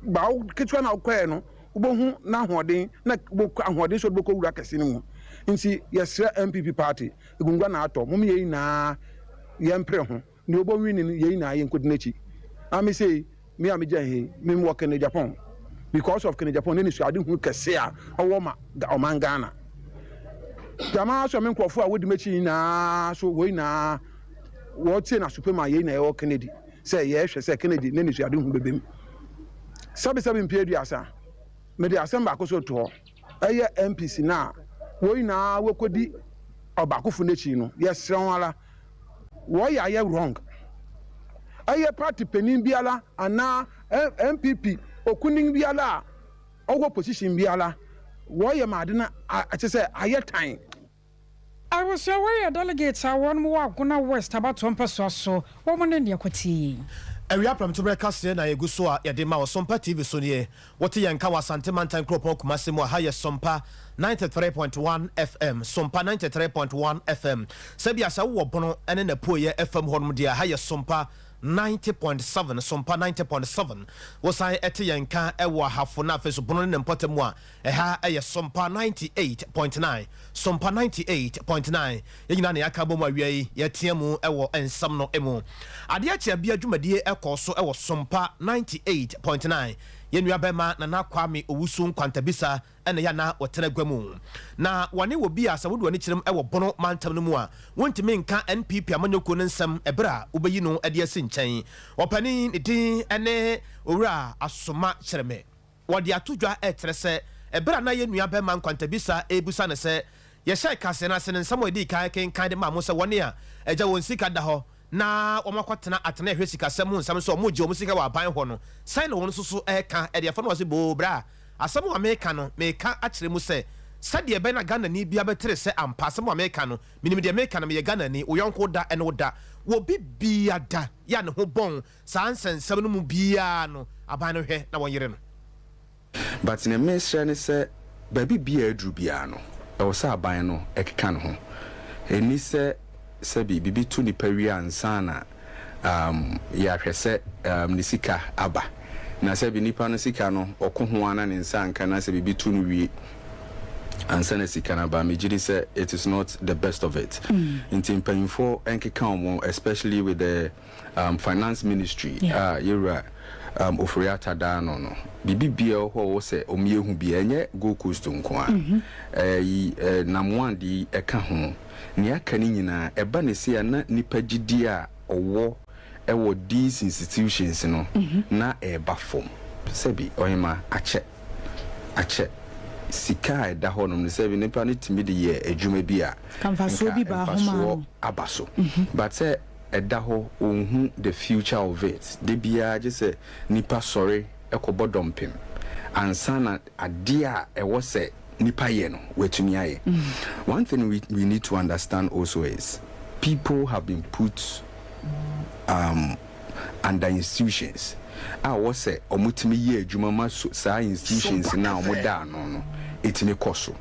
ba wo ketewa no a wokɔeɛ no, wobɛhu n'ahoɔden, na wobɛkɔ ahoɔden sɛ wode bɛkɔ wura kɛse no mu. Enti yɛsrɛ NPP party, agunnguan na atɔ. Mommyɛ yei nyinaa, yɛmpere ho. Nea obowie ni no, yɛn nyinaa yɛnkodi n'akyi. Na me sei, me a migyae ha yi, me wɔ Kennedy Agyapong because of Kennedy Agyapong n'anisoadehunu kɛse a ɔwɔ ma ɔman Ghana. Gyama ara so a me nkurɔfo a wodi m'akyi nyinaa so, wɔn nyinaa wɔtie n'asopem a yɛn nyinaa yɛwɔ Kennedy sɛ yɛhwɛ sɛ Kennedy n'anisoadehunu bɛbam. Sɛbesɛbe mpe aduasa, mede asɛm baako so reto hɔ. yɛ MPs no a, wɔn nyinaa wɔkɔdi ɔbaakofo no akyi no, yɛsrɛ wɔn ara, wɔyɛ a ayɛ wrong. Ɛyɛ party panin biara anaa NPP okunini biara a ɔwɔ position biara, wɔyɛ ma ade no akyɛ sɛ ayɛ tan. I Abusua wei yɛ delegates a wɔnom wɔ Agona West abatoɔ mpɛsoa so, wɔnom ne nea kɔtie yei. Awia prɛmtoberɛ kaseɛ na ɛgu so a yɛde ma wo Sompa TV so nie. Wote yɛn nka wɔ Asante mantan kuropɔn Kumase mu a, ha yɛ Sompa ninety three point one FM, Sompa ninety three point one FM. Sɛbia sɛ wowɔ Bono ne n'apueɛ fam hɔnom deɛ a, ha yɛ Sompa ninety point seven, Sompa ninety point seven. Wosan te yɛn nka wɔ Ahafo na afei nso Bono ne ne mpɔtam mu a, Ɛha yɛ Sompa ninety eight point nine, Sompa ninety eight point nine, yɛn nyinaa na yɛaka abom awia yi yɛretea mu wɔ nsɛm no mu. Adeɛ kyɛ bia dwumadie kɔɔ so wɔ Sompa ninety eight point nine. Yɛn nua bɛɛma Nana Kwame Owusu Nkwantabisa na yɛ a na ɔtena gua mu. Na wɔne wɔ bi a sɛ wode w'ani kyerem wɔ Bono mantam no mu a wontumi nka NPP amanyɔkuo no nsɛm ɛberɛ a wobɛyi no de asi nkyɛn. Ɔpanin ne din ne Owura Asoma Kyeremɛ. Wɔde ato dwa kyerɛ sɛ bere a na yɛn nua barima nkwantabisa rebisa no sɛ yɛhyɛɛ kaseɛ no ase no nsɛm a ɔdii kan kenkan de maa mo sɛ wɔne a agya wɔn sika da hɔ na wɔakɔtena atenae hwɛ sikasɛm ho nsɛm sɛ wɔregye wɔn sika wɔ aban hɔ no sɛn na wɔn nso so reka de afa no ɔse boo bra asɛm a meka no meka akyerɛ mu sɛ sɛdeɛ ɛbɛyɛ na Ghanani biara bɛtere sɛ ampa asɛm a meka no menim deɛ meka no meyɛ Ghanani wo yɔnko da ne wo da wɔ biribiara da yɛ a ne ho bɔn Saa nsɛnsɛm no mu biara no aban no hwɛ na wɔyere no. But nea mesrɛ ne sɛ baabi biaa aduru biaa no ɛwɔ sɛ aban no ɛkeka ne ho. Ɛnni sɛ sɛbi biribi to nipa wie ansa na um yɛahwɛ sɛ um ne sika aba. Na sɛbi nipa no sika no ɔko ho ara na ne nsa anka na sɛ biribi to no wie ansa na sika no aba. Megye di sɛ it is not the best of it. Nti mpanyimfoɔ nkeka wɔn especially with the. um, finance ministry a yɛwura um, ofori ata daa no no biribi bia wɔ hɔ wɔ sɛ ɔmo yɛ hu bia ɛnyɛ gold coast nko a mhm. ɛyi namwan de yi ɛka ho nea aka no nyinaa ɛba ne se a na nipa gyidie a ɔwɔ ɛwɔ these institutions no mhm. na ɛba fam sɛbi ɔhema akyɛ akyɛ sika a ɛda hɔ nom no sɛ nipa no tumi de yɛ adwuma bi a mfasoɔ aba so mhm. but sɛ ɛda hɔ ɔnhu the future of it da biara gye sɛ nipa sɔre kɔbɔ dɔmpem ansa na adeɛ a ɛwɔ sɛ nipa yɛ no watumi ayɛ one thing we we need to understand also is people have been put um, under institutions a ɛwɔ sɛ wɔtumi yɛ adwuma ma so, saa institutions no a wɔda ano no ɛtumi kɔ so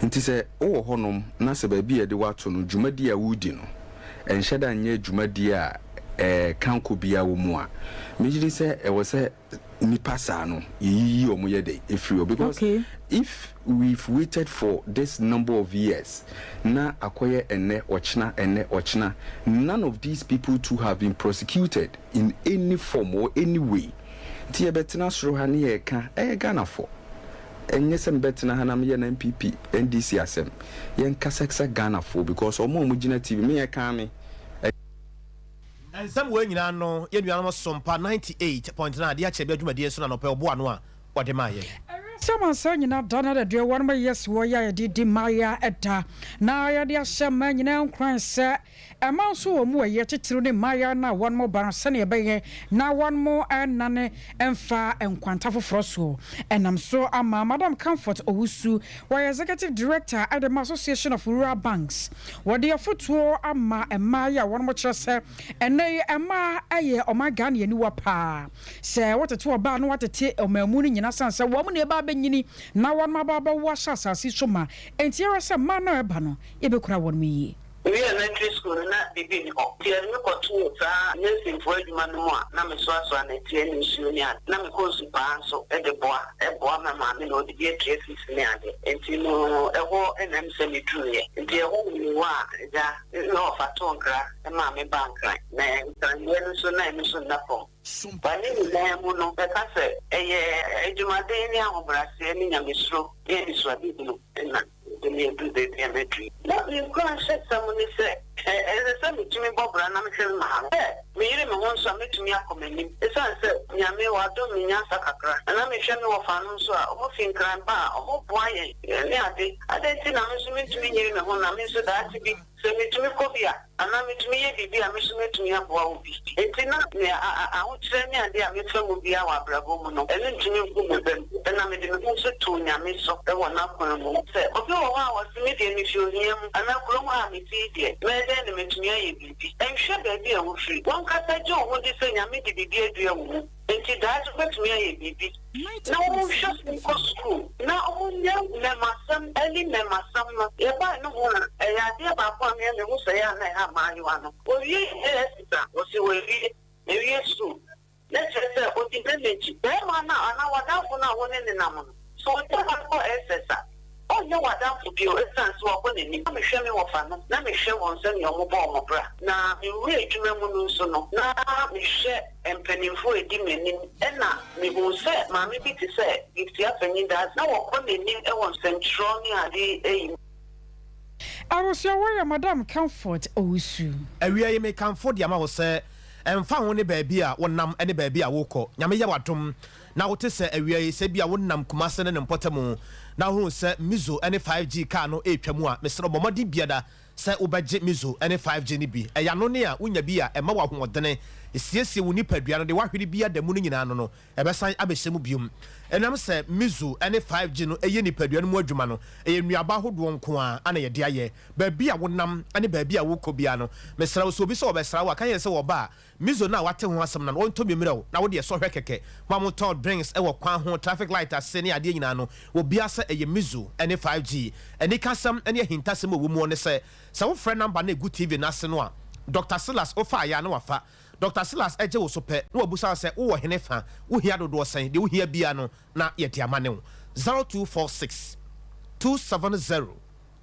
Enti sɛ wowɔ hɔnom na sɛ baabi a yɛde wo ato no, dwumadi a woredi no, ɛnhyɛ da nyɛ dwumadi a kankɔ biara wɔ mu a, megye di sɛ ɛwɔ sɛ nnipa saa no, yeyiyi wɔn yɛ dɛn? Efiri hɔ. Because if we've waited for this number of years, na akɔyɛ ɛnnɛ, ɔkyena, ɛnnɛ, ɔkyena, none of these people too have been prosecuted in any form or any way. Nti yɛbɛtena soro ha ne yɛreka, ɛyɛ Ghanafoɔ. Ɛnyɛ sɛ mebɛtena ha na meyɛ NPP, NDC asɛm. Yɛnkasa ksa Ghanafoɔ because ɔmo a ɔmo gyina TV, me ɛkaa me, ɛ. Nsɛm wei nyinaa no yɛn nuanom Sompa ninety eight point nine de akyerɛ bia dwumadie nso na anɔpa yi ɔboa ano a ɔde maa yɛn. Ɛwiase amansan nyinaa da no adaduawa no ma yɛasi hɔ yi a yɛde redi mmaeɛ da na yɛde ahyɛ mmaa nyinaa nkuran sɛ Ɛma nso wɔn mu ɛyɛ titiriw ne mmaayaa no a wɔnom bã sɛnea ɛbɛyɛ na wɔnom nnane mfa nkwanta foforɔ soɔ. Ɛnam so ama Madam Comfort Owusu, wɔyɛ Executive Director ɛde ma Association of Rural Banks, wɔde afotuo ama mmaayaa a wɔnom kyerɛ sɛ ɛnnɛ yi mmaa ɛyɛ ɔman Ghane aniwa paa. Sɛ wotete ɔbaa na woatete ɔmaamu no nyinaa sane sɛ wɔnom na ɛba abɛnyini na wɔnom aba abɛwo ahyɛ asase yi so ma. Enti ɛwɛ sɛ mmaa no a ɛba no yɛbɛkura wɔnom yie. Miwiee Elementary School no, na biribi nni hɔ, enti yɛde me kɔtoo saa nursingfo adwuma no mu a na mesoasoa nnɛteɛ ne nsuo ne ade. Na mekɔ nsu paa nso de boa, boa me maame na ɔde bue traces ne ade. Enti no, ɛhɔ na ɛm sɛ meduruiɛ. Enti ɛhɔ na mewɔ a Agya ne ɔfa too nkra maa me baa Nkran, na Nkran deɛ no nso na ɛno nso nna fam. Wɔ ne nyinaa mu no, mɛka sɛ ɛyɛ adwumaden ne ahobrɛaseɛ ne Nyamesuro ne anisoadehunu na. Mede me adu baabi a mɛduru. Ná me nkuranhyɛsɛm ne sɛ, ɛsɛ sɛ mitumi bɔ bra na mehwɛ me maame. Sɛ meyere me ho nso a, metumi akɔ m'anim. Esiane sɛ Nyame wadom me nyansa kakra, na na mehwɛ me wɔfanom nso a wɔfi Nkran ba a, wɔboa yɛn ne ade. Adɛn nti na me nso mintumi nyere me ho na me nso daakye bi, sɛ mitumi kɔ bi a, Anaa metumi yɛ biribi a me nso mɛtumi aboa wo bi. Enti na me ahokyerɛ ne adeɛ a mefa mu biara wɔ abrabɔ mu no, ɛno ntumi nku me bam. Ɛna mede me ho nso too Nyame so wɔ n'akwan mu. Sɛ obi wɔ hɔ a ɔse me deɛ mefi ohia mu anaa kurom ha a mete yi deɛ, mɛyɛ dɛn na matumi ayɛ biribi? Nhwɛ baabi a wofiri. Wankasa gye wo ho di sɛ Nyame de biribi adua wo mu. Enti daakye wobɛtumi ayɛ biribi na wonhwɛ sɛ wokɔ sukuu na wonya mmɛmasɛm, early mmɛmasɛm no. Yɛbae no ho a, ɛyɛ adeɛ baako a me a mehu sɛ ɛyɛ a na ɛha mmaayewa no. Owie university a, wɔse wawie, mawie sukuu. Na kyerɛ sɛ ɔdi n'ani akyi. Barima no a anaa w'adamfo no a wo ne no nam no, So w'anim ankɔ SS a, ɔrenyɛ w'adamfo bio esiane sɛ wabɔ n'ani ma mehwɛ me wɔfanom na mehwɛ wɔn sɛnea wɔbɔ wɔn bra, na me wura adwuma mu no nso no, na mehwɛ mpanimfoɔ a ɛdi m'anim. Ɛnna mehuu sɛ maame bi te sɛ Gift Afeni Dadzie, na ɔkɔ n'anim wɔ nsɛntwerɛ ne ade yi mu. Awosuawa yɛ Madam Comfort Owusu. Awiei mekamfo de ama wo sɛ ɛmfa ho ne baabi a wonam ne baabi a worekɔ, Nyame yɛ w'adom. na wote sɛ awia yi, sɛ ebia wonam Kumasi ne ne mpɔtam na wohu sɛ Mizo ne 5G kaa no retwa mu a, mesrɛ wo, bɔ mmɔden biada sɛ wobɛgye Mizo ne 5G no bi. Ɛyɛ anonne a wonya bi a ɛma wo ahoɔdene, esiesie wo nipadua no, deɛ woahwere bi ada mu no nyinaa ano no, ɛbɛsan abɛhyɛ mu bio. Ɛnam sɛ Mizo ne 5G no yɛ nipadua no mu adwuma no, ɛyɛ nnuaba ahodoɔ nko ara na yɛde ayɛ. Baabi a wonam ne baabi a worekɔ biara no, mesrɛ wo, sɛ obi sɛ ɔbɛsra wo a, ka kyerɛ no sɛ wɔba a, Mizo no a wate ho asɛm no no ɔntɔ bi mmerɛ o na wodeɛ sɔ hwɛ kɛkɛ ho a motɔ drinks wɔ kwan ho traffic light ase ne adeɛ nyinaa no wɔbia sɛ ɛyɛ Mizo ne 5G anikasɛm ne ahintasɛm a ɛwɔ muɔ ne sɛ sɛ wo frɛ number no a ɛgu TV no ase no a Doctor Silas wofa ayɛ a na wafa Doctor Silas gye wo so pɛ na wabusa wo sɛ wo wɔ hene fa wo hia dodoɔ sɛn deɛ wo hia biara no na yɛde ama ne wo 0246 270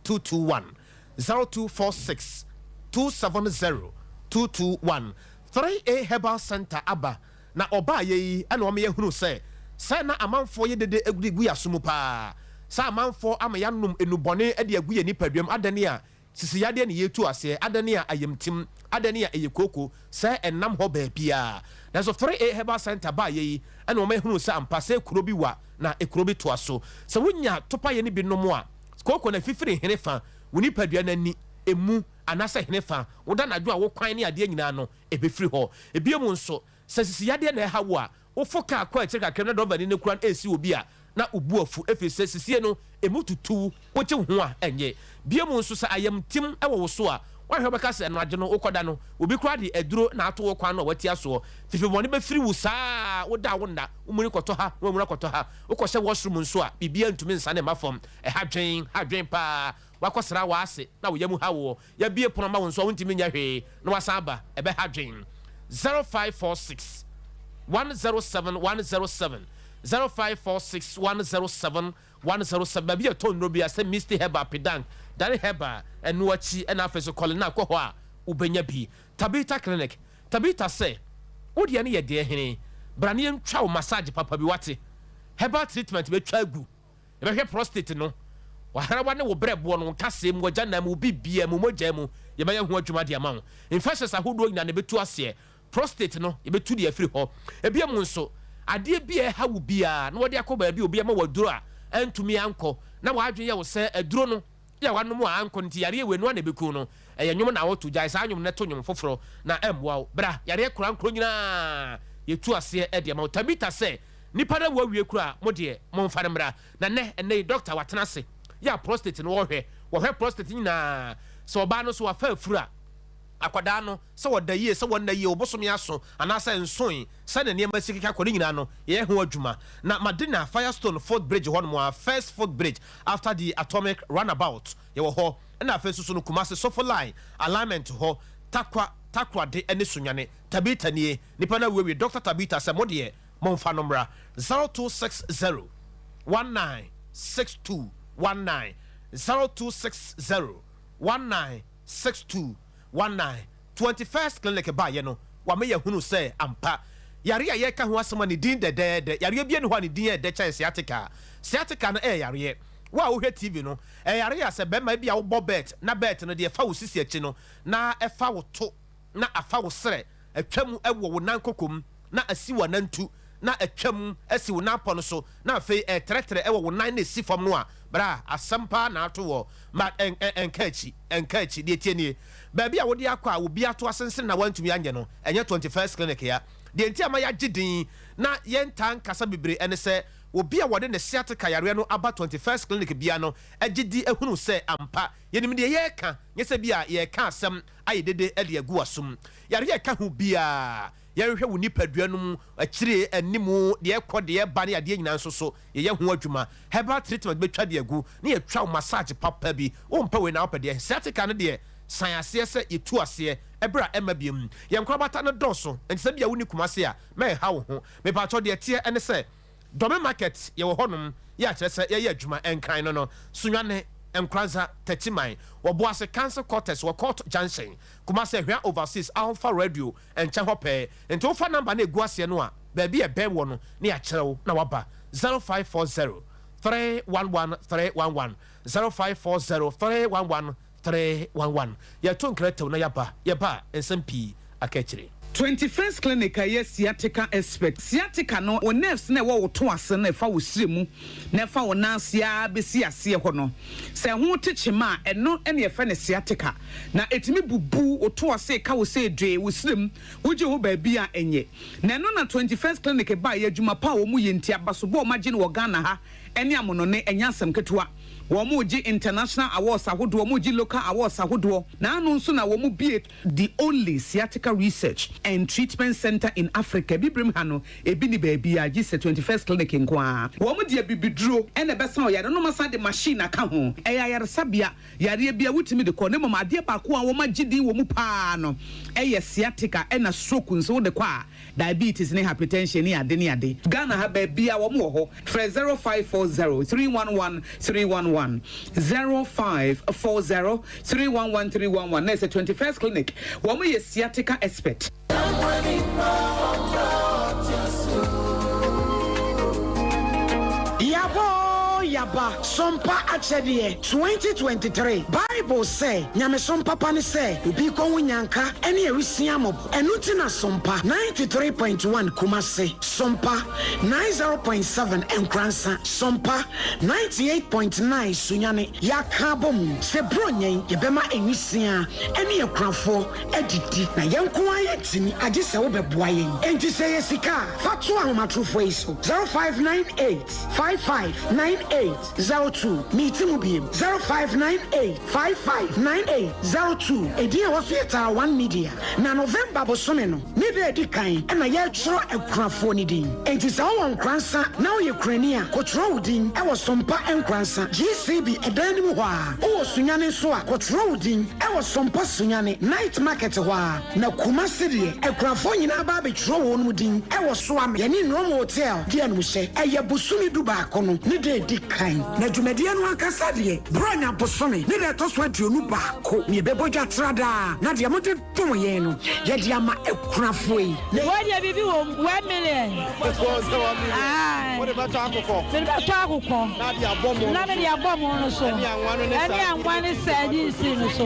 221. zero two four six two seven zero two two one three A Herbal Centre aba na wɔbaeɛ yi na wɔma yɛhunuu sɛ sɛ na amanfoɔ yɛ dede agudi gu yɛn aso mu pa ara, sɛ amanfoɔ ama yɛanom nnubɔne de agu yɛn nipaduam, adɛn a sisi yadeɛ na yɛretu aseɛ, adɛn a ayamtim, adɛn a ɛyɛ kooko sɛ ɛnam hɔ baabiara. Nanso Three A Herbal Centre baeɛ yi na wɔma yɛhunuu sɛ ampa sɛ kuro bi wa na kuro bi toa so. Sɛ wonya topaeɛ no bi nom a, Kooko no afifiri henefa wo nipadua no ani, emu, anaasɛ henefa wo da anadwo a wo kwan ne adeɛ nyinaa no, ɛbɛfiri hɔ. Bio nso, sɛ sisiyadeɛ na ɛha wo a, wofo kaa kɔ akyire kakra mu na drɔvani no kura no resi obi a, na wo bo afu ɛfiri sɛ sisie no emu tutu wo, wogye wo ho a ɛnyɛ. Bio nso, sɛ ayamtim wɔ wo so a, woahwɛ a wobɛka sɛ anadwo no wokɔda no, obi koraa de aduro na ato wo kwan no a woatia soɔ. Fefebɔne bɛfiri wo saa ara a woda a wonna, womuni kɔtɔ ha na wamuni akɔtɔ ha. Wokɔhyɛ washroom nso a, biribiara ntumi nsane mma fam. Ɛha dwen, ha dwen paa. Woakɔsra w'ase na wo yam ha woɔ. Yɛabue pono ama wo nso a, wontumi nyɛ hwee na woasan aba. Ɛbɛha dwen. Zero five four six one zero seven one zero seven zero five four six one zero seven one zero seven Baabi a yɛtɔn nnuro biara sɛ Misty Herbal, Pidank, Dare Herbal, ɛno akyi, ɛna afei nso Colinac kɔ hɔ a wobɛnya bi. Tabitha Clinic, Tabitha sɛ, Wo deɛ no yɛ deɛ hene, bra na yɛntwa wo massage papa bi wate. Herbal treatment bɛtwa agu, yɛbɛhwɛ prostate no, w'ahrawa ne wo berɛboɔ no, wo nkasɛɛ mu, w'agyanan mu, wo biribiara mu, mogya mu, yɛbɛyɛ ho adwuma de ama wo. Infections ahodoɔ nyinaa no yɛbɛtu aseɛ, prostate no yɛbɛtu de afiri hɔ. Ebiom nso, adeɛ bi a ɛha wo biara na wɔde akɔ baabi a obi ama wo aduro a antumi ankɔ na w'adwene yɛ wo sɛ aduro no a wanom a ankɔ no nti yareɛ wei noa na ɛbɛku no ɛyɛ nwom na ɔto gyae saa nwom no to nwom foforɔ na ɛmmoa wo bra yareɛ korankoro nyinaa yɛtu aseɛ de ama wo Tabitha sɛ nipa no awu awie koraa mo deɛ momfa no mmra na nnɛ ɛnnɛ yi doctor watena ase yɛ a prostate no ɔhwɛ wɔhwɛ prostate nyinaa sɛ ɔbaa no nso wafa afuru a Akwadaa no, sɛ ɔda yie, sɛ ɔnna yie, ɔbosome aso anaasɛ nsoe, sɛdeɛ nneɛma si keka kɔ, ne nyinaa no, yɛyɛ ho adwuma. Na Madina, Firestone footbridge hɔnom ara, First Footbridge after the Atomic Runabout, yɛwɔ hɔ. Ɛna afei nso so no, Kumasi, Sofo Line, Alignment hɔ, Tarkwa, Takoradi ne Sunyani. Tabita nie, nnipa no awiewie, Doctor Tabita sɛ, mo deɛ, momfa no mmra. Zero two six zero one nine six two one nine, zero two six zero one nine. six two one nine Twenty First Clinic baeɛ no, wama yɛahunu sɛ ampa, yareɛ a yɛreka ho asɛm a ne din dɛdɛɛdɛ, yareɛ biara nni hɔ a ne din yɛ dɛ kyɛn sciatica. Sciatica no yɛ yareɛ. Wo a wohwɛ TV no, ɛyɛ yareɛ a sɛ barima, ebia wobɔ bɛɛt, na bɛɛt no deɛ ɛfa wo sisi akyi no, na ɛfa wo to na afa wo serɛ atwa mu wɔ wo nan koko mu, na asi w'anantu, na atwa mu asi wo nan pɔ no so, na afei ɛretrɛtrɛ wɔ wo nan na ɛsi fam no a, bra. Asɛm paa na ato hɔ, but ɛnka akyi, ɛnka akyi. Deɛ ɛteɛ nie, baabi a wode akɔ a obi ato asensene na woantumi anyɛ no, ɛnyɛ Twenty First Clinic ya. Deɛ nti a ɛma yɛagye din na yɛntaa nkasa bebree ne sɛ, obi a wɔde ne sciatica yareɛ no aba Twenty First Clinic biara no gye di hunu sɛ ampa yɛnim deɛ yɛreka, nyɛ sɛ bi a yɛreka asɛm ayɛ dede de agu w'asom. Yareɛ a ɛka ho biara, yɛnhwɛ wo nipadua no mu, akyire, anim, deɛ ɛkɔ, deɛ ɛba ne adeɛ nyinaa nso so, yɛyɛ ho adwuma. Herbal treatment bɛtwa de agu, ne yɛtwa wo massage papa bi. Wompɛ wei na wopɛ deɛn? Sciatica no deɛ, san aseɛ sɛ yɛtu aseɛ, ɛberɛ a ɛmma biom. Yɛn nkorabata no dɔɔso, enti sɛ bia wonni Kumasi a, mɛnha wo ho. Mepakyɛw, deɛ ɛteɛ ne sɛ. Dome market yɛwɔ hɔ nom yɛ akyerɛ sɛ yɛyɛ adwuma nkran no no Sunyane, Nkoranza, Techiman, wɔ Boase council quarters wɔ Court junction, Kumasi Ahwea overseas ahofa radio nkyɛn hɔ pɛɛ nti wofa number no a egu aseɛ no a baabi a ɛbɛn woɔ no na yɛakyerɛ wo na waba zero five four zero three one one three one one zero five four zero three one one Three, one, one, Yɛto nkra tɛw na yɛaba, yɛba a, nsɛm pii aka akyire. Twenty First Clinic a ɛyɛ sciatica expert. Sciatica no, wo nerves no a ɛwɔ wo to ase no a ɛfa wo srɛ mu na ɛfa wo nan ase ara bɛsi aseɛ hɔ no, sɛ ɛho te kyema a, ɛno na yɛfrɛ no sciatica. Na ɛtumi bubu wo to ase ka wo sɛ dwee, wo srɛ mu, wogye ho baabi a ɛnyɛ. Na ɛno na Twenty First Clinic baeɛ, adwuma pa a wɔyɛ nti, abasobɔ a wɔagye no wɔ Ghana ha ne amonɔne, ɛnyɛ asɛm ketewa. Wɔregye international awards ahodoɔ, wɔregye local awards ahodoɔ, na ano nso na wɔbue the only sciatica research and treatment centre in Africa. Abibirem ha no, ebi nni baabiara gye sɛ Twenty First Clinic nko ara. Wɔde abibiduro na ɛbɛsa wo yareɛ na wɔasan de machine aka ho. Ɛyɛ ayaresabea yareɛ biara wotumi de kɔ, na mmom adeɛ baako a wɔagye din wɔ mu pa ara no yɛ sciatica ɛna stroke nso wode kɔ a, diabetes ne hypertension ne ade ne ade. Ghana ha baabiaa wɔn wɔ hɔ. Frɛ zero five four zero three one one three one one, zero five four zero three one one three one one, na ɛsɛ twenty first clinic, wɔn yɛ sciatica expert. Yɛabɔ Yɛaba Sompa Akyɛdeɛ twenty twenty three Bible sɛ nyamesom papa ne sɛ obi kɔ ho nyanka ne awisiaa mmɔbɔ. Ɛno nti na Sompa ninety three point one Kumasi, Sompa ninety zero point seven Nkoransa, Sompa ninety eight point nine Sunyani yɛaka abom sɛ Buronya yi yɛbɛma nwisiaa ne akunafoɔ adidi na yɛn nko ara yɛtumi agye sɛ wobɛboa yɛn. Enti sɛ ɛyɛ sika a fa to ahomatorofoɔ yi so, zero five nine eight five five nine eight Zero two, Meeti mu biem. Zero five nine eight five five nine eight zero two, Edin a ɛwɔ so yɛ Tar One Media, na November bosome no ne da a ɛdi kan na yɛretwerɛ akunafoɔ no din. Enti sɛ wowɔ Nkoransa na woyɛ kunani a, kɔtwerɛ wo din wɔ Sompa Nkoransa GCB dan no mu hɔ ara. Wowɔ Sunyani nso a, kɔtwerɛ wo din wɔ Sompa Sunyani Night Market hɔ ara. Na Kumasi deɛ akunafoɔ nyinaa ba abɛtwerɛ wɔnom din wɔ so ama yɛne Nnoɔma Hotel deɛ nom hyɛ ɛyɛ bosome du baako no ne da ɛdi kan na dwumadie no ankasa deɛ Borɔnya bosome ne da ɛtɔ so aduonu baako na yɛbɛbɔ dwa tra daa na deɛ mode dom yɛn no yɛde ama akunafoɔ yi na Wei deɛ biribi wɔ mu, one million. Ɛkɔɔ sɛ one million. Aye. Wode bɛtɔ akokɔ. Mede bɛtɔ akokɔ. Na de abɔ mo no so. Na mede abɔ mo no so. Ɛne anwa no ne sɛ. Ɛne anwa ne sɛ ne nsi no so.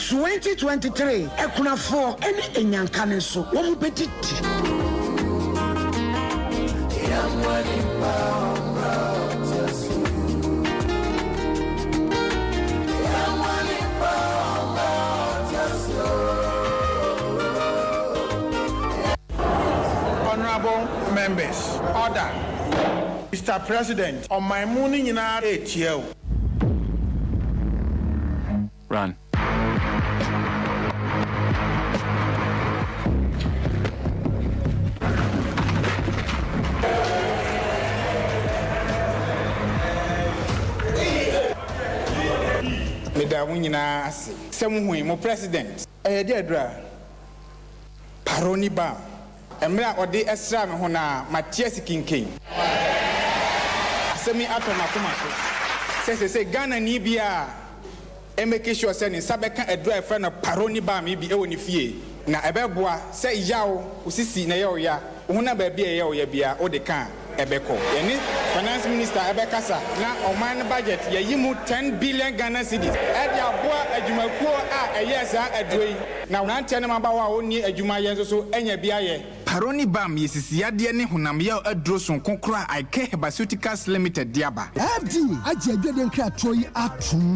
Twenty twenty three akunafoɔ ne anyanka no nso wɔn bɛdidi. Honourable members, order. Mister President, ɔman mu no nyinaa retia o. Run. Meda mo nyinaa ase sɛ mohui mo president. Ɛyɛ dɛ dura. Paroni ba Mmerɛ a ɔde sraa me ho no ara, mate ase kinken. Asɛm yi atɔ m'akoma so sɛ seesei Ghanani biara mmɛki sure sɛ ne nsa bɛka aduro a yɛfrɛ no Paroni Balm yi bi wɔ ne fie. Na ɛbɛboa sɛ yaw wo sisi na ɛyɛ wo ya, wo honam baabi a ɛyɛ wo ya biara, wode ka a. ɛbɛkɔ. Yɛne Finance Minister ɛbɛkasa na ɔman no budget yɛyi mu ten billion Ghana cedis ɛde aboa adwumakuo a ɛyɛɛ saa aduro yi na mmeranteɛ ne mmabaawa a wɔnni adwuma yɛ nso so anya bi ayɛ. Paroni Balm yɛ sisiyadeɛ ne honamyaw aduro sononko koro a Icare Herbaceuticals Limited de aba. AD agye adwadie nkratoɔ yi atom.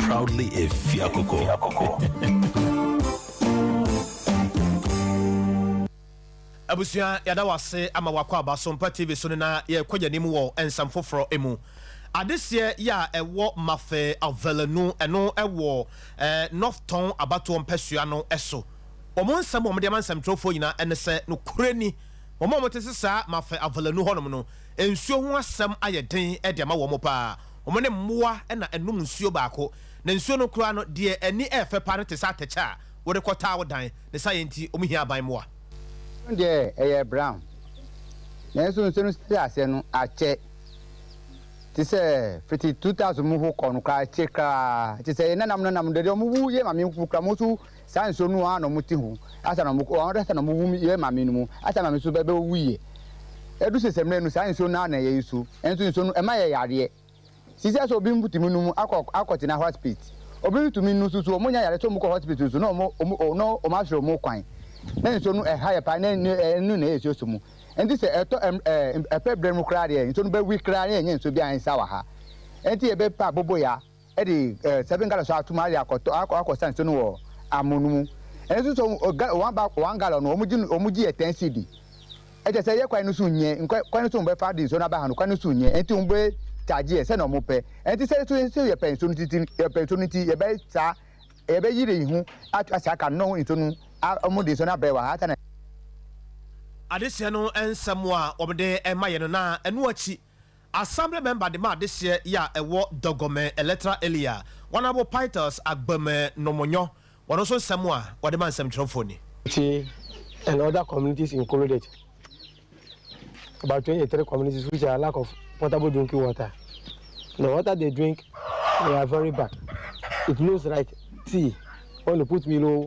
Proudly a Fiakoko. abusua yɛda wase ama wakɔ aba so mpa tv so no na yɛkɔ yɛn anim wɔ nsɛm foforɔ mu adeseɛ yɛ a ɛwɔ mafe avelanu ɛno ɛwɔ eh, north tɔn abatoɔ mpɛsua no ɛso wɔn nsɛm wɔn de ama nsɛmtwerɛfoɔ nyinaa ɛne sɛ no korɛ ni wɔn a wɔte se saa mafe avelanu hɔnom no nsuo ho asɛm ayɛ den ɛde ama wɔn paa Wɔn ne mmoa na ɛnom nsuo baako, na nsuo no koraa no, deɛ ani yɛ fɛ paa no te sɛ atɛkyɛ a wode kɔtaa wo dan. Ne saayɛ nti, wɔhia aban mmoa. Nsuo no deɛ, ɛyɛ brown, nanso nsuo no sisi aseɛ no akyɛ te sɛ fiti 2000 mu hokɔ no koraa, akyɛ koraa. Te sɛ yɛn nananom nananom deɛ, deɛ wɔwu, yɛn maame mpo koraa, wɔn nso Saa nsuo no ara na wɔn te ho, ansa na wɔn ansa na wɔn wum yɛ maame no mu, ansa na wɔn nso bɛ bɛ wu yɛ. Ɛdu sɛ sɛ mmerɛ no saa nsuo no ara na yɛ nsu, nanso nsuo no ɛma yɛ yareɛ. Sisɛ sɛ obi ntumi num akɔ akɔ tena hospit, obi ntumi nnu nso so wɔn nya yareɛ sɛ wɔn kɔ hospit nso na wɔn wɔn wɔn na wɔn asrɛ wɔn kwan. Na nsuo no ɛha yɛ paa na ɛnu ɛnu na yɛ nsuo so mu. Ɛnti sɛ ɛtɔ ɛm ɛɛ ɛpɛ berɛ no mu koraa deɛ nsuo no bɛ wi koraa na yɛ nyɛ nsuo biara nsa wɔ ha. Ɛnti yɛ bɛ pɛ aboboyaa. de eh seven gallon so atom ayɛ akɔtɔ akɔ akɔsa nsuo no wɔ amono no mu. Ɛno nso so oh ga one ba one gallon no wɔn gye no wɔn gye yɛ ten cedi. Ɛkyerɛ sɛ yɛ kwan no so nyɛ nkwa kwan no so wɔn bɛfa de nsuo no aba ha no kwan no so nyɛ ɛnti wɔn bɛ charge yɛ sɛdeɛ wɔn pɛ. Ɛnti sɛ so so yɛ pɛ nsuo no titi yɛ pɛ nsuo no nti yɛ bɛ saa yɛ bɛ yire yɛn ho ato ahyɛ aka no na nsuo no a wɔn de nsuo no abrɛ wɔ ha ansa na. Adesua no nsɛm a wɔn de rema yɛn no na ɛno akyi Assembly member de ma adehyeɛ yi a ɛwɔ Dɔgɔmɛ electoral area, Honourable Pytles Agbameh Nomonyo, wɔn nso nsɛm a wɔde ma nsɛmtwerɛfoɔ ni. Ti and other communities included about twenty three communities which are lack of potable drinking water the water they drink they are very bad it looks like tea when you put milo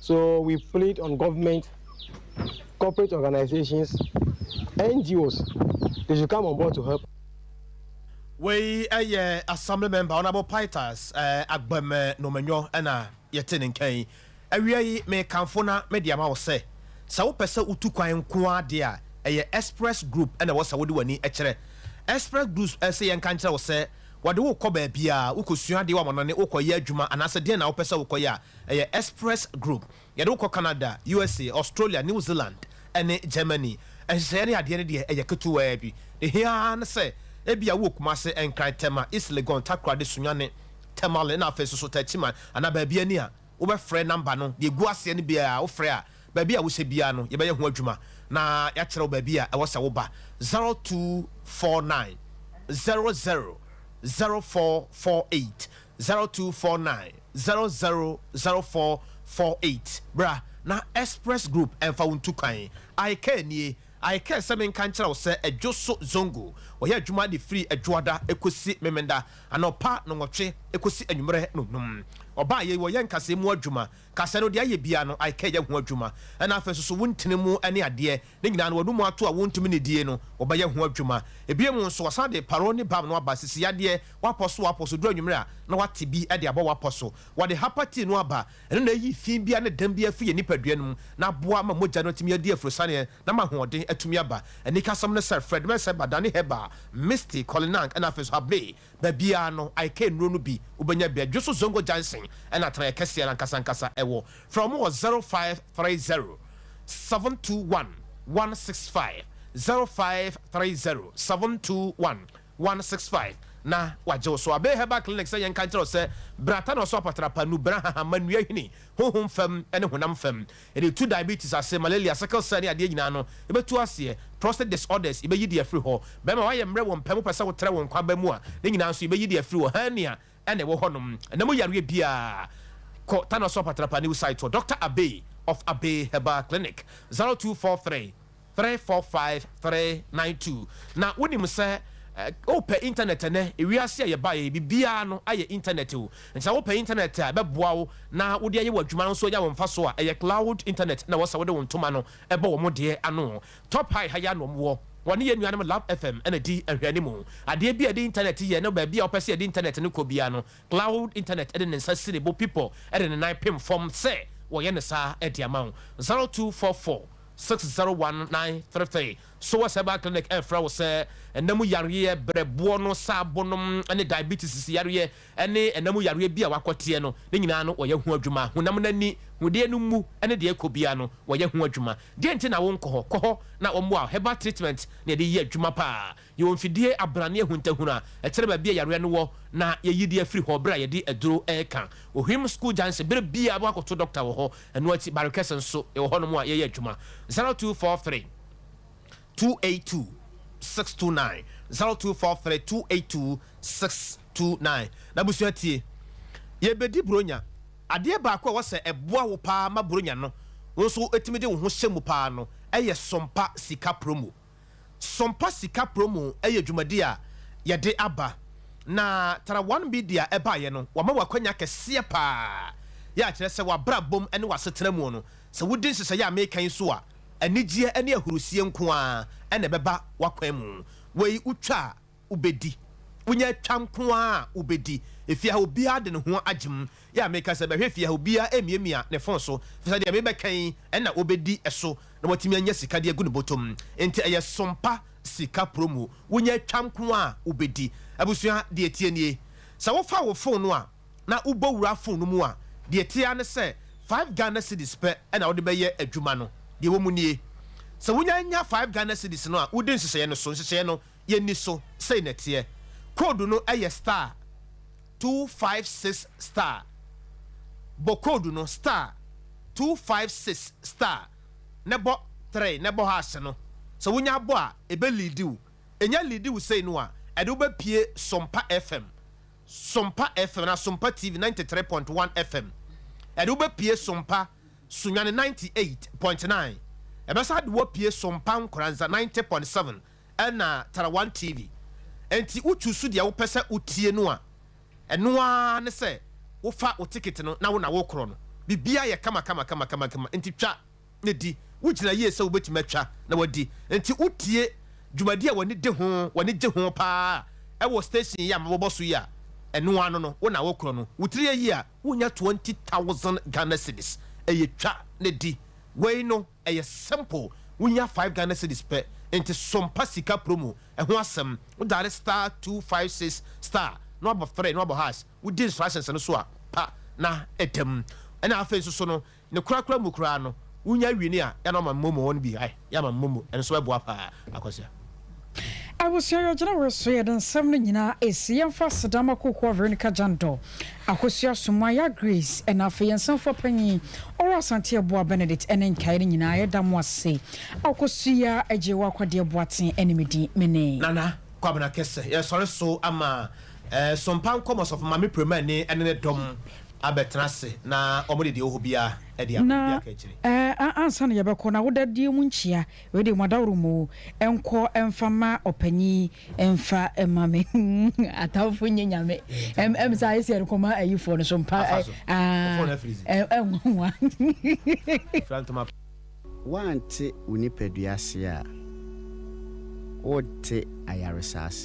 So we plead on government, corporate organisations, NGOs, they should come on board to help. Wei yɛ Assembly Member Honourable Pytas Agbem Nomenyo na yɛte ne nka yi. Awia yi mekamfo na mede ama wo sɛ, sɛ wopɛ sɛ wotu kwan nko ara deɛ a, ɛyɛ Express Group na ɛwɔ sɛ wode w'ani kyerɛ. Express Group se yɛnka nkyerɛ wo sɛ, wɔde wo kɔ baabiara, wokɔsua adeɛ, wɔamane wo kɔyɛ adwuma anaasɛ deɛn na wopɛ sɛ wokɔyɛ a, Ɛyɛ Express Group. Yɛde wo kɔ Canada, USA, Australia, New Zealand ne Germany. Nhyehyɛeɛ ne adeɛ no deɛ ɛyɛ ketewaa bi. Deɛ ɛhia ara ne sɛ ebia wowɔ Kumase, Nkran, Tema, East Legon, Takoradi, Sunyani, Tamale na afei nso so Techiman anaa baabi ani a, wobɛfrɛ number no. Deɛ ɛgu aseɛ no biara wofrɛ a, baabi a wohyɛ biara no yɛbɛyɛ ho adwuma na yɛakyerɛ wo baabi a ɛwɔ sɛ woba. Zero two four nine zero zero zero four four eight. zero two four nine zero zero zero four four eight Bra na Express Group mfa wo ntu kwan. I care nie, I care sɛ menka nkyerɛ wo sɛ Adwoso Zongo wɔyɛ adwuma de firi Adwoada kɔsi Memenda, anɔpa nɔnwɔtwe kɔsi anwummerɛ nonum. Ɔbaa yei wɔyɛ nkasɛɛ mu adwuma, kasɛɛ no deɛ ayɛ biara no I care yɛ ho adwuma. Ɛna afei nso so wo ntini mu ne adeɛ Ne nyinaa no, wɔnom ato a wontumi nnidie no, wɔbɛyɛ ho adwuma. Ebio mu nso, wɔsan de paron ne bam no aba, sisi yadeɛ, wapɔ so wapɔ so, ɛduru anwumerɛ a, na wate bi de abɔ wapɔ so. Wɔde hapa tii no aba, ɛno na ɛyi fi biara ne dɛm biara firi yɛn nipadua no mu, na aboa ma mogya no atumi adi afurosianeɛ, na ama ahoɔden atumi aba. Anikasɛm ne sɛ, Fred Mercer ba, Danny Heber, Misty, Colin Ang, ɛna afei nso Habley, Baabiara no, ayɛkɛyɛ nnuro no bi wobɛnya bi a dwo so Zongo Junction na atenaeɛ kɛseɛ no ankasa ankasa wɔ. Frɛ wɔn wɔ 0530 721 165, 0530 721 165, na wɔagye wo so. Abay Herbal Clinic sɛ yɛnka nkyerɛ wo sɛ, Bra Tano so apatrapa, Nubra, Hahama, Nnua Hini, Honhom fam ne Honam fam, Yɛde tu diabetes ase, malaria, sickle cell ne adeɛ nyinaa no, yɛbɛtu aseɛ. Prostate disorders, yɛbɛyi de afiri hɔ. Bɛrima a wayɛ mmerɛ wɔ mpa mu pɛ sɛ wotrɛ wo nkwa aba mu a, ne nyinaa nso yɛbɛyi de afiri hɔ. Hernia na ɛwɔ hɔnom. Ɛna mu yareɛ biara, kɔ Tanoa Soap Atrapaniw site hɔ, Doctor Abey of Abey Herbal Clinic, 0243. three four five three nine two Na wonim sɛ wopɛ intanɛt ɛnɛ wiase a yɛbaeɛ yi biribiara no ayɛ intanɛt o nti sɛ wopɛ intanɛt a ɛbɛboa wo na wode ayɛ w'adwuma nso anya wo mfasoɔ a ɛyɛ cloud intanɛt na ɛwɔ sɛ wode wo ntoma no bɔ wɔn deɛ ano Top High ha yi ara na wɔwɔ wɔne yɛn nuanom Love FM na ɛdi nhwɛanimu Adeɛ biara a yɛde intanɛt yɛ ne baabi a wopɛ sɛ yɛde intanɛt no kɔ biara no Cloud Internet de ne nsa si ne bo pipɔ de ne nan pem fam sɛ wɔyɛ no saa de ama wo. Zero two four four six zero one nine three three Soas Herbal Clinic refrɛ wo sɛ nna mu yareɛ, berɛboɔ no, saabonom ne diabetes yareɛ ne nna mu yareɛ bi a wakɔteɛ no, ne nyinaa no wɔyɛ ho adwuma. Honam no ani, hodeɛ no mu ne deɛ ɛkɔ biara no wɔyɛ ho adwuma. Deɛn nti na wonkɔ hɔ? Kɔ hɔ na wɔmmoa wo. Herbal treatment na yɛde yɛ adwuma paa. Yɛwɔ mfidie abrane ahuntahun a ɛkyerɛ baabi a yareɛ no wɔ na yɛyi de afiri hɔ berɛ a yɛde aduro reka. Ohwim School Junction, berɛ biara wobɛkɔ akɔto dɔkta wɔ hɔ. Ɛno akyi, Barekɛse nso, yɛwɔ hɔnom a yɛyɛ adwuma. 0243 282 629, 0243 282 629. N'abusua tie, yɛrebɛdi Buronya. Adeɛ baako a ɛwɔ sɛ ɛboa wo paa ma Buronya no wo nso wotumi de wo ho hyɛ mu paa no yɛ Sompa Sika Promo. Sompa Sika Promo yɛ dwumadi a yɛde aba, na Tara One Media baeɛ no, wɔama wo akwanya kɛseɛ pa ara. Yɛ a kyerɛ sɛ w'abrabɔ mu ne w'asetena mu no, sɛ wodi nhyehyɛeɛ a meka yi so a, anigyeɛ ne ahurisie nko ara na ɛbɛba w'akwan mu. Wei, wotwa a, wobɛdi. Wonya atwa nko ara a wobɛdi. Efie ha obiara de ne ho agye mu. Yɛ a meka sɛ bɛhwɛ fie ha obiara amiamia ne fon so efisɛ deɛ mebɛka yi na ɔbɛdi so na watumi anya sika de agu ne bɔtɔ mu. Enti ɛyɛ sompa sika promo. Wonya atwa nko ara a wobɛdi. Abusua, deɛ ɛteɛ nie. Sɛ wofa wo fon no a na wobɔ wura fon no mu a, deɛ ɛteɛ ara ne sɛ five Ghana cedis pɛ na wode bɛyɛ adwuma no. Deɛ ɛwɔ mu nie. Sɛ wonya nya five Ghana cedis no a, wodi nhyehyɛeɛ no so. Nhyehyɛeɛ no. yɛnni so sei na ɛteɛ, code no yɛ star two five six star, bɔ code no star two five six star na bɔ three na bɔ hash no, sɛ wonya abɔ a ɛbɛ leadi wo, ɛnya leadi wo sei no a ɛde wo bɛ pie Sompa FM, Sompa FM anaa Sompa TV ninety three point one FM, ɛde wo bɛ pie Sompa Sunyani ninety eight point nine, ɛbɛsan de wo apue Sompa Nkoranza ninety point seven. na Tarawan TV, enti wo chuusu deɛ wopɛ sɛ wo tie no a, ɛno ara ne sɛ wo fa wo ticket no na wo na wo korɔ no. Biribiara yɛ kama kama kama kama kama, enti twa na di. Wo gyina yie sɛ wo bɛtumi atwa na wadi, enti wo tie dwumadi a w'ani de ho, w'ani gye ho paa ɛwɔ station yi a mabobɔ so yi a, ɛno ara no no, wo na wo korɔ no. Wo tiri ayi a, wo nya twenty thousand Ghana cedis, ɛyɛ twa na di. Wei no. Ɛyɛ simple, wonya five Ghana cedis pɛ, nti sompa sika promo, ɛho asɛm, wo daale star two five six star na wabɔ three na wabɔ hash, wodi instructions no so a pa na ɛda mu, ɛna afei nso so no ne korakora mu koraa no wonya wie no a yɛ a na wama momo wɔn bi, ai yɛ ama momo ɛno nso bɛboa paa Akwasia. Abusua yɛ gyina wɔ so yɛ de nsɛm no nyina esi yɛn fa aseda ma Kokoa Veronica Jando, Akosua Sumah, Yaa Grace ɛna afei yɛn nsɛmfoa panyin Ɔwɔ Asante Aboa Benedict ɛne nkaeɛ no nyinaa yɛ da mo ase Akosua Agyewa Kwadeɛ Boateng ɛne me din me ne. Nana Kwabena Kese yɛ sɔre so ama ɛɛ Sompa Nkɔmɔ Sɔfo Maame Premani ɛne ne dɔm abɛ tena ase na wɔn de deɛ ɛwɔ hɔ biara ɛde abɔ obi aka akyire. Na ɛɛ ansa na yɛbɛkɔ na wo da die mu nkyia. Wei deɛ moadaworo mo o. Nkɔ mfa mma ɔpanyin mfa mma me. Atamfo nyɛ nyame. Ɛm ɛm saa ɛsi ɛde kɔma ayifoɔ no so mpa ɛ aa ɛ nwanwa. Woante wo nipadua ase a, worente ayaresa ase.